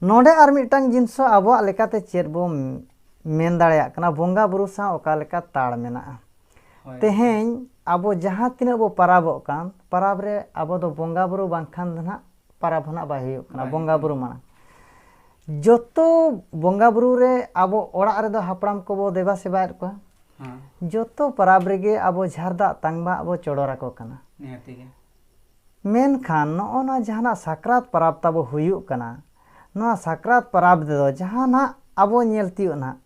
A: ᱱᱚᱰᱮ ᱟᱨ ᱢᱤᱫᱴᱟᱝ ᱡᱤᱱᱥᱚ ᱟᱵᱚᱣᱟᱜ ᱞᱮᱠᱟᱛᱮ ᱪᱮᱫ ᱵᱚ ᱢᱮᱱ ᱫᱟᱲᱮᱭᱟᱜ ᱠᱟᱱᱟ ᱵᱚᱸᱜᱟ ᱵᱩᱨᱩ ᱥᱟᱶ ᱚᱠᱟ ᱞᱮᱠᱟ ᱛᱟᱲ ᱢᱮᱱᱟᱜᱼᱟ ᱛᱮᱦᱮᱧ ᱟᱵᱚ ᱡᱟᱦᱟᱸ ᱛᱤᱱᱟᱹᱜ ᱵᱚ ᱯᱟᱨᱟᱵᱚᱜ ᱠᱟᱱ ᱯᱟᱨᱟᱵᱽ ᱨᱮ ᱟᱵᱚ ᱫᱚ ᱵᱚᱸᱜᱟ ᱵᱩᱨᱩ ᱵᱟᱝᱠᱷᱟᱱ ᱫᱚ ᱱᱟᱦᱟᱜ ᱯᱟᱨᱟᱵᱽ ᱦᱚᱸ ᱱᱟᱦᱟᱜ ᱵᱟᱭ ᱦᱩᱭᱩᱜ ᱠᱟᱱᱟ ᱵᱚᱸᱜᱟ ᱵᱩᱨᱩ ᱢᱟᱲᱟᱝ ᱡᱚᱛᱚ ᱵᱚᱸᱜᱟ ᱵᱩᱨᱩ ᱨᱮ ᱟᱵᱚ ᱚᱲᱟᱜ ᱨᱮᱫᱚ ᱦᱟᱯᱲᱟᱢ ᱠᱚᱵᱚ ᱫᱮᱵᱟ ᱥᱮᱵᱟᱭᱮᱫ ᱠᱚᱣᱟ ᱡᱚᱛᱚ ᱯᱟᱨᱟᱵᱽ ᱨᱮᱜᱮ ᱟᱵᱚ ᱡᱷᱟᱨ ᱫᱟᱜ ᱛᱟᱝᱵᱟᱜ ᱵᱚ ᱪᱚᱰᱚᱨ ᱟᱠᱚ ᱠᱟᱱᱟ ᱢᱮᱱᱠᱷᱟᱱ ᱱᱚᱜᱼᱚ ᱱᱚᱣᱟ ᱡᱟᱦᱟᱱᱟᱜ ᱥᱟᱠᱨᱟᱛ ᱯᱟᱨᱟᱵᱽ ᱛᱟᱵᱚ ᱦᱩᱭᱩᱜ ᱠᱟᱱᱟ, ᱱᱚᱣᱟ ᱥᱟᱠᱨᱟᱛ ᱯᱟᱨᱟᱵᱽ ᱨᱮᱫᱚ ᱡᱟᱦᱟᱸ ᱱᱟᱦᱟᱜ ᱟᱵᱚ ᱧᱮᱞ ᱛᱤᱭᱳᱜ ᱱᱟᱦᱟᱜ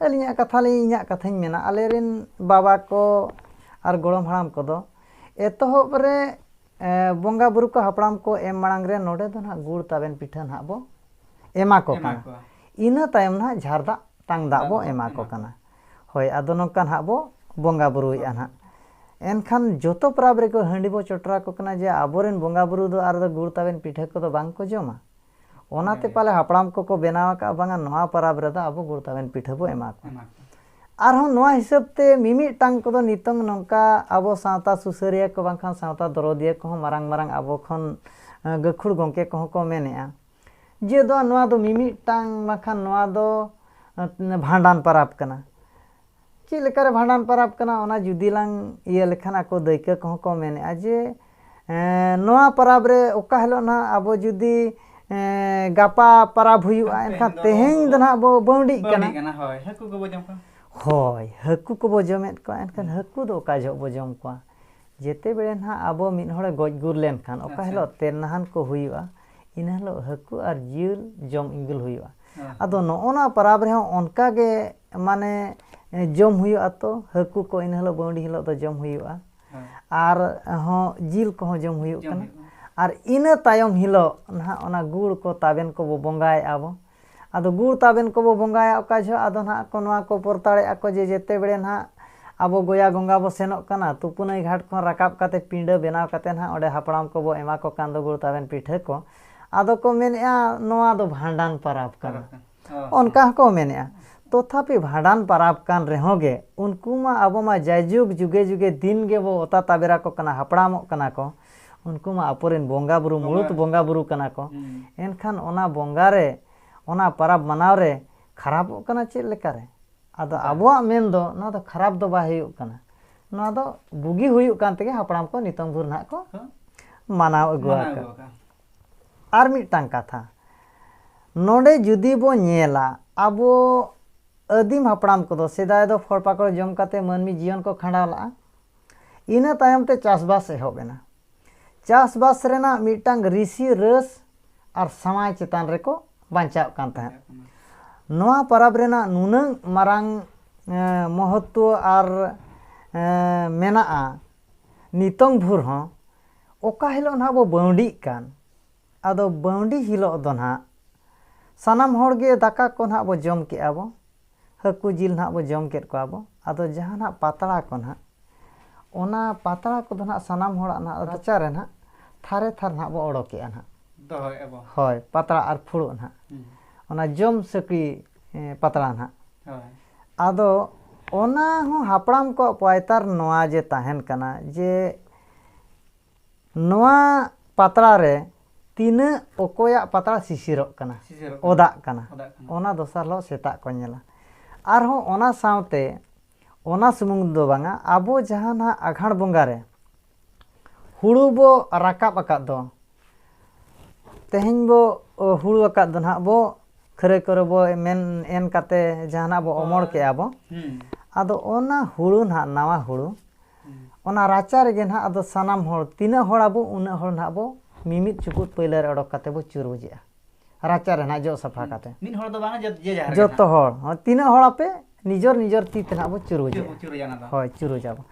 A: ᱟᱹᱞᱤᱧᱟᱜ ᱠᱟᱛᱷᱟ ᱞᱤᱧ ᱤᱧᱟᱹᱜ ᱠᱟᱛᱷᱟᱧ ᱢᱮᱱᱟ ᱟᱞᱮ ᱨᱮᱱ ᱵᱟᱵᱟ ᱠᱚ ᱟᱨ ᱜᱚᱲᱚᱢ ᱦᱟᱲᱟᱢ ᱠᱚᱫᱚ ᱮᱛᱚᱦᱚᱵ ᱨᱮ ᱵᱚᱸᱜᱟ ᱵᱩᱨᱩ ᱠᱚ ᱦᱟᱯᱲᱟᱢ ᱠᱚ ᱮᱢ ᱢᱟᱲᱟᱝ ᱨᱮ ᱱᱚᱰᱮ ᱫᱚ ᱱᱟᱦᱟᱜ ᱜᱩᱲ ᱛᱟᱵᱮᱱ ᱯᱤᱴᱷᱟᱹ ᱱᱟᱦᱟᱜ ᱵᱚ ᱮᱢᱟ ᱠᱚ ᱠᱟᱱᱟ ᱤᱱᱟᱹ ᱛᱟᱭᱚᱢ ᱱᱟᱦᱟᱜ ᱡᱷᱟᱨ ᱫᱟᱜ ᱛᱟᱝ ᱫᱟᱜ ᱵᱚ ᱮᱢᱟ ᱠᱚ ᱠᱟᱱᱟ ᱦᱳᱭ ᱟᱫᱚ ᱱᱚᱝᱠᱟ ᱱᱟᱦᱟᱜ ᱵᱚ ᱵᱚᱸᱜᱟ ᱵᱩᱨᱩᱭᱮᱫᱼᱟ ᱱᱟᱦᱟᱜ ᱮᱱᱠᱷᱟᱱ ᱡᱚᱛᱚ ᱯᱚᱨᱚᱵᱽ ᱨᱮᱠᱚ ᱦᱟᱺᱰᱤ ᱵᱚ ᱪᱚᱴᱚᱨ ᱟᱠᱚ ᱠᱟᱱᱟ ᱡᱮ ᱟᱵᱚᱨᱮᱱ ᱵᱚᱸᱜᱟ ᱵᱩᱨᱩ ᱫᱚ ᱟᱨ ᱫᱚ ᱜᱩᱲ ᱛᱟᱵᱮᱱ ᱯᱤᱴᱷᱟᱹ ᱠᱚᱫᱚ ᱵᱟᱝ ᱠᱚ ᱡᱚᱢᱟ ᱚᱱᱟᱛᱮ ᱯᱟᱞᱮ ᱦᱟᱯᱲᱟᱢ ᱠᱚᱠᱚ ᱵᱮᱱᱟᱣ ᱟᱠᱟᱫᱼᱟ ᱵᱟᱝᱟ ᱱᱚᱣᱟ ᱯᱚᱨᱚᱵᱽ ᱨᱮᱫᱚ ᱟᱵᱚ ᱜᱩᱲ ᱛᱟᱵᱮᱱ ᱯᱤᱴᱷᱟᱹ ᱵᱚ ᱮᱢᱟ ᱠᱚᱣᱟ ᱟᱨᱦᱚᱸ ᱱᱚᱣᱟ ᱦᱤᱥᱟᱹᱵ ᱛᱮ ᱢᱤᱢᱤᱫᱴᱟᱝ ᱠᱚᱫᱚ ᱱᱤᱛᱚᱝ ᱱᱚᱝᱠᱟ ᱟᱵᱚ ᱥᱟᱶᱛᱟ ᱥᱩᱥᱟᱹᱨᱤᱭᱟᱹ ᱠᱚ ᱵᱟᱝᱠᱷᱟᱱ ᱥᱟᱶᱛᱟ ᱫᱚᱨᱚᱫᱤᱭᱟᱹ ᱠᱚᱦᱚᱸ ᱢᱟᱨᱟᱝ ᱢᱟᱨᱟᱝ ᱟᱵᱚ ᱠᱷᱚᱱ ᱜᱟᱹᱠᱷᱩᱲ ᱜᱚᱢᱠᱮ ᱠᱚᱦᱚᱸ ᱠᱚ ᱢᱮᱱᱮᱫᱼᱟ ᱡᱮ ᱫᱚ ᱱᱚᱣᱟ ᱫᱚ ᱢᱤᱢᱤᱫᱴᱟᱝ ᱵᱟᱝᱠᱷᱟᱱ ᱱᱚᱣᱟ ᱫᱚ ᱵᱷᱟᱸᱰᱟᱱ ᱯᱟᱨᱟᱵᱽ ᱠᱟᱱᱟ ᱪᱮᱫ ᱞᱮᱠᱟᱨᱮ ᱵᱷᱟᱸᱰᱟᱱ ᱯᱟᱨᱟᱵᱽ ᱠᱟᱱᱟ ᱚᱱᱟ ᱡᱩᱫᱤ ᱞᱟᱝ ᱤᱭᱟᱹ ᱞᱮᱠᱷᱟᱱ ᱟᱠᱚ ᱫᱟᱹᱭᱠᱟᱹ ᱠᱚᱦᱚᱸ ᱠᱚ ᱢᱮᱱᱮᱫᱼᱟ ᱡᱮ ᱱᱚᱣᱟ ᱯᱟᱨᱟᱵᱽ ᱨᱮ ᱚᱠᱟ ᱦᱤᱞᱳᱜ ᱱᱟᱦᱟᱜ ᱟᱵᱚ ᱡᱩᱫᱤ ᱜᱟᱯᱟ ᱯᱟᱨᱟᱵᱽ ᱦᱩᱭᱩᱜᱼᱟ ᱮᱱᱠᱷᱟᱱ ᱛᱮᱦᱮᱧ ᱫᱚ ᱱᱟᱦᱟᱜ ᱵᱚ ᱵᱟᱹᱣᱰᱤᱜ ᱠᱟᱱᱟ ᱦᱳᱭ ᱦᱟᱹᱠᱩ ᱠᱚᱵᱚ ᱡᱚᱢ ᱠᱚᱣᱟ ᱦᱳᱭ ᱦᱟᱹᱠᱩ ᱠᱚᱵᱚ ᱡᱚᱢᱮᱫ ᱠᱚᱣᱟ ᱮᱱᱠᱷᱟᱱ ᱦᱟᱹᱠᱩ ᱫᱚ ᱚᱠᱟ ᱡᱚᱦᱚᱜ ᱵᱚ ᱡᱚᱢ ᱠᱚᱣᱟ ᱡᱮᱛᱮ ᱵᱮᱲᱮ ᱱᱷᱟᱜ ᱟᱵᱚ ᱢᱤᱫ ᱦᱚᱲᱮ ᱜᱚᱡ ᱜᱩᱨ ᱞᱮᱱ ᱠᱷᱟᱱ ᱚᱠᱟ ᱟᱪᱪᱷᱟ ᱦᱤᱞᱚᱜ ᱛᱮᱨᱱᱟᱦᱟᱱ ᱠᱚ ᱦᱩᱭᱩᱜᱼᱟ ᱤᱱᱟᱹ ᱦᱤᱞᱚᱜ ᱦᱟᱹᱠᱩ ᱟᱨ ᱡᱤᱞ ᱡᱚᱢ ᱤᱸᱜᱩᱞ ᱦᱩᱭᱩᱜᱼᱟ ᱦᱮᱸ ᱟᱫᱚ ᱱᱚᱜᱼᱚ ᱱᱚᱣᱟ ᱯᱟᱨᱟᱵᱽ ᱨᱮᱦᱚᱸ ᱚᱱᱠᱟ ᱜᱮ ᱢᱟᱱᱮ ᱡᱚᱢ ᱦᱩᱭᱩᱜᱼᱟ ᱛᱚ ᱦᱟᱹᱠᱩ ᱠᱚ ᱤᱱᱟᱹ ᱦᱤᱞᱚᱜ ᱵᱟᱹᱣᱰᱤ ᱦᱤᱞᱚᱜ ᱫᱚ ᱡᱚᱢ ᱦᱩᱭᱩᱜᱼᱟ ᱦᱮᱸ ᱟᱨ ᱦᱚᱸ ᱡᱤᱞ ᱠᱚᱦᱚᱸ ᱡᱚᱢ ᱦᱩᱭᱩᱜ ᱡᱚᱢ ᱠᱟᱱᱟ ᱦᱩᱭᱩᱜᱼᱟ ᱟᱨ ᱤᱱᱟᱹ ᱛᱟᱭᱚᱢ ᱦᱤᱞᱚᱜ ᱱᱷᱟᱜ ᱚᱱᱟ ᱜᱩᱲ ᱠᱚ ᱛᱟᱵᱮᱱ ᱠᱚᱵᱚ ᱵᱚᱸᱜᱟᱭᱮᱫᱼᱟ ᱵᱚ ᱟᱫᱚ ᱜᱩᱲ ᱛᱟᱵᱮᱱ ᱠᱚᱵᱚ ᱵᱚᱸᱜᱟᱭᱟ ᱚᱠᱟ ᱡᱚᱦᱚᱜ ᱟᱫᱚ ᱱᱟᱦᱟᱜ ᱠᱚ ᱱᱚᱣᱟ ᱠᱚ ᱯᱚᱨᱛᱟᱲᱮᱜᱼᱟ ᱠᱚ ᱡᱮ ᱡᱮᱛᱮ ᱵᱮᱲᱮ ᱱᱟᱦᱟᱜ ᱟᱵᱚ ᱜᱚᱭᱟ ᱜᱚᱝᱜᱟ ᱵᱚ ᱥᱮᱱᱚᱜ ᱠᱟᱱᱟ ᱛᱩᱯᱩᱱᱟᱹᱭ ᱜᱷᱟᱴ ᱠᱷᱚᱱ ᱨᱟᱠᱟᱵ ᱠᱟᱛᱮ ᱯᱤᱸᱰᱟᱹ ᱵᱮᱱᱟᱣ ᱠᱟᱛᱮ ᱱᱟᱦᱟᱜ ᱚᱸᱰᱮ ᱦᱟᱯᱲᱟᱢ ᱠᱚᱵᱚ ᱮᱢᱟ ᱠᱚ ᱠᱟᱱ ᱫᱚ ᱜᱩᱲ ᱛᱟᱵᱮᱱ ᱯᱤᱴᱷᱟᱹ ᱠᱚ ᱟᱫᱚ ᱠᱚ ᱢᱮᱱᱮᱜᱼᱟ ᱱᱚᱣᱟ ᱫᱚ ᱵᱷᱟᱸᱰᱟᱱ ᱯᱟᱨᱟᱵᱽ ᱠᱟᱱᱟ ᱚᱱᱠᱟ ᱦᱚᱸᱠᱚ ᱢᱮᱱᱮᱜᱼᱟ ᱛᱚᱛᱷᱟᱯᱤ ᱵᱷᱟᱸᱰᱟᱱ ᱯᱟᱨᱟᱵᱽ ᱠᱟᱱ ᱨᱮᱦᱚᱸ ᱜᱮ ᱩᱱᱠᱩ ᱢᱟ ᱟᱵᱚ ᱢᱟ ᱡᱟᱭᱡᱩᱜᱽ ᱡᱩᱜᱮ ᱡᱩᱜᱮ ᱫᱤᱱ ᱜᱮᱵᱚ ᱚᱛᱟ ᱛᱟᱵᱮᱨ ᱟᱠᱚ ᱠᱟᱱᱟ ᱦᱟᱯᱲᱟᱢᱚᱜ ᱠᱟᱱᱟ ᱠᱚ ᱩᱱᱠᱩ ᱢᱟ ᱟᱠᱚ ᱨᱮᱱ ᱵᱚᱸᱜᱟ ᱵᱩᱨᱩ ᱢᱩᱬᱩᱛ ᱵᱚᱸᱜᱟ ᱵᱩᱨᱩ ᱠᱟᱱᱟ ᱠᱚ ᱮᱱᱠᱷᱟᱱ ᱚᱱᱟ ᱵᱚᱸᱜᱟ ᱨᱮ ᱚᱱᱟ ᱯᱟᱨᱟᱵᱽ ᱢᱟᱱᱟᱣ ᱨᱮ ᱠᱷᱟᱨᱟᱯᱚᱜ ᱠᱟᱱᱟ ᱪᱮᱫ ᱞᱮᱠᱟ ᱨᱮ ᱟᱫᱚ ᱟᱵᱚᱣᱟᱜ ᱢᱮᱱ ᱫᱚ ᱱᱚᱣᱟ ᱫᱚ ᱠᱷᱟᱨᱟᱯ ᱫᱚ ᱵᱟᱭ ᱦᱩᱭᱩᱜ ᱠᱟᱱᱟ ᱱᱚᱣᱟ ᱫᱚ ᱵᱩᱜᱤ ᱦᱩᱭᱩᱜ ᱠᱟᱱ ᱛᱮᱜᱮ ᱦᱟᱯᱲᱟᱢ ᱠᱚ ᱱᱤᱛᱚᱝ ᱵᱷᱳᱨ ᱱᱟᱦᱟᱜ ᱠᱚ ᱢᱟᱱᱟᱣ ᱟᱹᱜᱩ ᱟᱠᱟᱫ ᱟᱨ ᱢᱤᱫᱴᱟᱝ ᱠᱟᱛᱷᱟ ᱱᱚᱰᱮ ᱡᱩᱫᱤ ᱵᱚ ᱧᱮᱞᱟ ᱟᱵᱚ ᱟᱹᱫᱤᱢ ᱦᱟᱯᱲᱟᱢ ᱠᱚᱫᱚ ᱥᱮᱫᱟᱭ ᱫᱚ ᱯᱷᱚᱞ ᱯᱟᱠᱚᱲ ᱡᱚᱢ ᱠᱟᱛᱮ ᱢᱟᱹᱱᱢᱤ ᱡᱤᱭᱚᱱ ᱠᱚ ᱠᱷᱟᱸᱰᱟᱣ ᱞᱟᱜᱼᱟ ᱤᱱᱟᱹ ᱛᱟᱭᱚᱢ ᱛᱮ ᱪᱟᱥᱵᱟᱥ ᱮᱦᱚᱵ ᱮᱱᱟ᱾ ᱪᱟᱥᱵᱟᱥ ᱨᱮᱱᱟᱜ ᱢᱤᱫᱴᱟᱝ ᱨᱤᱥᱤ ᱨᱟᱹᱥ ᱟᱨ ᱥᱟᱶᱟᱭ ᱪᱮᱛᱟᱱ ᱨᱮᱠᱚ ᱵᱟᱧᱪᱟᱣᱜ ᱠᱟᱱ ᱛᱟᱦᱮᱸᱫ᱾ ᱱᱚᱶᱟ ᱯᱟᱨᱟᱵᱽ ᱨᱮᱱᱟᱜ ᱱᱩᱱᱟᱹᱝ ᱢᱟᱨᱟᱝ ᱢᱚᱦᱚᱛᱛᱚ ᱟᱨ ᱢᱮᱱᱟᱜᱼᱟ ᱱᱤᱛᱚᱝ ᱵᱷᱩᱨ ᱦᱚᱸ ᱚᱠᱟ ᱦᱤᱞᱚᱜ ᱱᱷᱟᱜ ᱵᱚ ᱵᱟᱹᱶᱰᱤᱜ ᱠᱟᱱ ᱟᱫᱚ ᱵᱟᱹᱶᱰᱤ ᱦᱤᱞᱚᱜ ᱫᱚ ᱱᱷᱟᱜ ᱥᱟᱱᱟᱢ ᱦᱚᱲ ᱜᱮ ᱫᱟᱠᱟ ᱠᱚ ᱱᱷᱟᱜ ᱵᱚ ᱡᱚᱢ ᱠᱮᱫᱼᱟ ᱵᱚ᱾ ᱦᱟᱹᱠᱩ ᱡᱤᱞ ᱱᱟᱦᱟᱜ ᱵᱚ ᱡᱚᱢ ᱠᱮᱫ ᱠᱚᱣᱟ ᱵᱚ ᱟᱫᱚ ᱡᱟᱦᱟᱸ ᱱᱟᱦᱟᱜ ᱯᱟᱛᱲᱟ ᱠᱚ ᱱᱟᱦᱟᱜ ᱚᱱᱟ ᱯᱟᱛᱲᱟ ᱠᱚᱫᱚ ᱱᱟᱦᱟᱜ ᱥᱟᱱᱟᱢ ᱦᱚᱲᱟᱜ ᱱᱟᱦᱟᱜ ᱨᱟᱪᱟ ᱨᱮ ᱱᱟᱦᱟᱜ ᱛᱷᱟᱨᱮ ᱛᱷᱟᱨ ᱱᱟᱦᱟᱜ ᱵᱚ ᱚᱰᱚᱠᱮᱜᱼᱟ ᱱᱟᱦᱟᱜ ᱫᱚᱦᱚᱭᱮᱜᱼᱟ ᱵᱚ ᱦᱳᱭ ᱯᱟᱛᱲᱟ ᱟᱨ ᱯᱷᱩᱲᱩᱜ ᱱᱟᱦᱟᱜ ᱚᱱᱟ ᱡᱚᱢ ᱥᱟᱹᱠᱲᱤ ᱯᱟᱛᱲᱟ ᱱᱟᱦᱟᱜ ᱟᱫᱚ ᱚᱱᱟ ᱦᱚᱸ ᱦᱟᱯᱲᱟᱢ ᱠᱚᱣᱟᱜ ᱯᱟᱭᱛᱟᱨ ᱱᱚᱣᱟ ᱡᱮ ᱛᱟᱦᱮᱱ ᱠᱟᱱᱟ ᱡᱮ ᱱᱚᱣᱟ ᱯᱟᱛᱲᱟ ᱨᱮ ᱛᱤᱱᱟᱹᱜ ᱚᱠᱚᱭᱟᱜ ᱯᱟᱛᱲᱟ ᱥᱤᱥᱤᱨᱚᱜ ᱠᱟᱱᱟ ᱚᱫᱟᱜ ᱠᱟᱱᱟ ᱚᱱᱟ ᱫᱚᱥᱟᱨ ᱦᱤᱞᱳᱜ ᱥᱮᱛᱟᱜ ᱠᱚ ᱧᱮᱞᱟ ᱟᱨᱦᱚᱸ ᱚᱱᱟ ᱥᱟᱶᱛᱮ ᱚᱱᱟ ᱥᱩᱢᱩᱝ ᱫᱚ ᱵᱟᱝᱟ ᱟᱵᱚ ᱡᱟᱦᱟᱸ ᱱᱟᱦᱟᱜ ᱟᱜᱷᱟᱬ ᱵᱚᱸᱜᱟ ᱨᱮ ᱦᱩᱲᱩ ᱵᱚ ᱨᱟᱠᱟᱵ ᱟᱠᱟᱫ ᱫᱚ ᱛᱮᱦᱮᱧ ᱵᱚ ᱦᱩᱲᱩ ᱟᱠᱟᱫ ᱫᱚ ᱱᱟᱦᱟᱜ ᱵᱚ ᱠᱷᱟᱹᱨᱟᱹᱭ ᱠᱚᱨᱮ ᱵᱚ ᱢᱮᱱ ᱮᱱ ᱠᱟᱛᱮ ᱡᱟᱦᱟᱱᱟᱜ ᱵᱚ ᱚᱢᱚᱲ ᱠᱮᱜᱼᱟ ᱵᱚ ᱟᱫᱚ ᱚᱱᱟ ᱦᱩᱲᱩ ᱱᱟᱦᱟᱜ ᱱᱟᱣᱟ ᱦᱩᱲᱩ ᱚᱱᱟ ᱨᱟᱪᱟ ᱨᱮᱜᱮ ᱱᱟᱦᱟᱜ ᱟᱫᱚ ᱥᱟᱱᱟᱢ ᱦᱚᱲ ᱛᱤᱱᱟᱹᱜ ᱦᱚᱲ ᱟᱵᱚ ᱩᱱᱟᱹᱜ ᱦᱚᱲ ᱱᱟᱦᱟᱜ ᱵᱚ ᱢᱤᱢᱤᱫ ᱪᱩᱯᱩᱫ ᱯᱟᱹᱭᱞᱟᱹ ᱨᱮ ᱚᱰᱚᱠ ᱠᱟᱛᱮ ᱵᱚ ᱪᱩᱨ ᱵᱩᱡᱮᱜᱼᱟ ᱨᱟᱪᱟ ᱨᱮ ᱱᱟᱦᱟᱜ ᱡᱚᱜ ᱥᱟᱯᱷᱟ ᱠᱟᱛᱮ ᱢᱤᱫ ᱦᱚᱲ ᱫᱚ ᱵᱟᱝ ᱡᱚᱛᱚ ᱡᱮ ᱡᱟᱦᱟᱨ ᱡᱚᱛᱚ ᱦᱚᱲ ᱛᱤᱱᱟᱹᱜ ᱦᱚᱲ ᱟᱯᱮ ᱱᱤᱡᱚᱨ ᱱᱤᱡᱚᱨ ᱛᱤ ᱛᱮ ᱱᱟᱦᱟᱜ ᱵᱚ ᱪᱩᱨ ᱵᱩᱡᱮᱜᱼᱟ ᱦᱳᱭ ᱪᱩᱨᱩᱡ ᱟᱵᱚ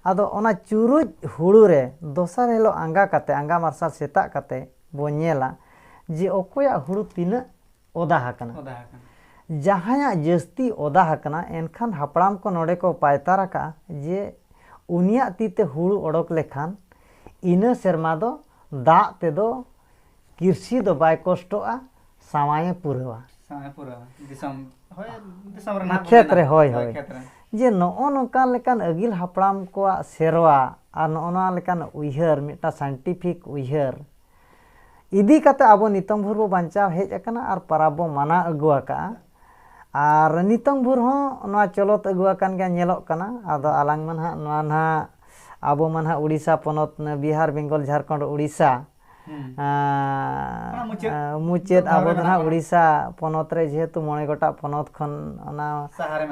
A: ᱟᱫᱚ ᱚᱱᱟ ᱪᱩᱨᱩᱡ ᱦᱩᱲᱩ ᱨᱮ ᱫᱚᱥᱟᱨ ᱦᱤᱞᱳᱜ ᱟᱸᱜᱟ ᱠᱟᱛᱮ ᱟᱸᱜᱟ ᱢᱟᱨᱥᱟᱞ ᱥᱮᱛᱟᱜ ᱠᱟᱛᱮ ᱵᱚ ᱧᱮᱞᱟ ᱡᱮ ᱚᱠᱚᱭᱟᱜ ᱦᱩᱲᱩ ᱛᱤᱱᱟᱹᱜ ᱚᱫᱟ ᱟᱠᱟᱱᱟ᱾ ᱡᱟᱦᱟᱸᱭᱟᱜ ᱡᱟᱹᱥᱛᱤ ᱚᱫᱟ ᱟᱠᱟᱱᱟ ᱮᱱᱠᱷᱟᱱ ᱦᱟᱯᱲᱟᱢ ᱠᱚ ᱱᱚᱰᱮ ᱠᱚ ᱯᱟᱭᱛᱟᱨ ᱟᱠᱟᱫᱼᱟ ᱡᱮ ᱩᱱᱤᱭᱟᱜ ᱛᱤ ᱛᱮ ᱦᱩᱲᱩ ᱚᱰᱚᱠ ᱞᱮᱠᱷᱟᱱ ᱤᱱᱟᱹ ᱥᱮᱨᱢᱟ ᱫᱚ ᱫᱟᱜ ᱛᱮ ᱫᱚ ᱠᱤᱨᱥᱤ ᱫᱚ ᱵᱟᱭ ᱠᱚᱥᱴᱚᱜᱼᱟ ᱥᱟᱶᱟᱭ ᱮ ᱯᱩᱨᱟᱹᱣᱟ᱾ ᱠᱷᱮᱛ ᱨᱮ ᱦᱚᱭ ᱦᱚᱭ ᱡᱮ ᱱᱚᱜᱼᱚ ᱱᱚᱝᱠᱟ ᱞᱮᱠᱟᱱ ᱟᱹᱜᱤᱞ ᱦᱟᱯᱲᱟᱢ ᱠᱚᱣᱟᱜ ᱥᱮᱨᱣᱟ ᱟᱨ ᱱᱚᱜᱼᱚ ᱱᱚᱣᱟ ᱞᱮᱠᱟᱱ ᱩᱭᱦᱟᱹᱨ ᱢᱤᱫᱴᱟᱝ ᱥᱟᱭᱮᱱᱴᱤᱯᱷᱤᱠ ᱩᱭᱦᱟᱹᱨ᱾ ᱤᱫᱤ ᱠᱟᱛᱮ ᱟᱵᱚ ᱱᱤᱛᱚᱝ ᱵᱷᱳᱨ ᱵᱚ ᱵᱟᱧᱪᱟᱣ ᱦᱮᱡ ᱟᱠᱟᱱᱟ ᱟᱨ ᱯᱟᱨᱟᱵᱽ ᱵᱚ ᱢᱟᱱᱟᱣ ᱟᱹᱜᱩ ᱟᱠᱟᱫᱼᱟ ᱟᱨ ᱱᱤᱛᱚᱝ ᱵᱷᱳᱨ ᱦᱚᱸ ᱱᱚᱣᱟ ᱪᱚᱞᱚᱛ ᱟᱹᱜᱩ ᱟᱠᱟᱱ ᱜᱮᱭᱟ ᱧᱮᱞᱚᱜ ᱠᱟᱱᱟ ᱟᱫᱚ ᱟᱞᱟᱝ ᱢᱟ ᱱᱟᱦᱟᱜ ᱱᱚᱣᱟ ᱱᱟᱦᱟᱜ ᱟᱵᱚ ᱢᱟ ᱱᱟᱦᱟᱜ ᱩᱲᱤᱥᱥᱟ ᱯᱚᱱᱚᱛ ᱵᱤᱦᱟᱨ ᱵᱮᱝᱜᱚᱞ ᱡᱷᱟᱲᱠᱷᱚᱸᱰ ᱩᱲᱤᱥᱥᱟ ᱢᱩᱪᱟᱹᱫ ᱟᱵᱚ ᱫᱚ ᱱᱟᱦᱟᱜ ᱩᱲᱤᱥᱥᱟ ᱯᱚᱱᱚᱛ ᱨᱮ ᱡᱮᱦᱮᱛᱩ ᱢᱚᱬᱮ ᱜᱚᱴᱟᱜ ᱯᱚᱱᱚᱛ ᱠᱷᱚᱱ ᱚᱱᱟ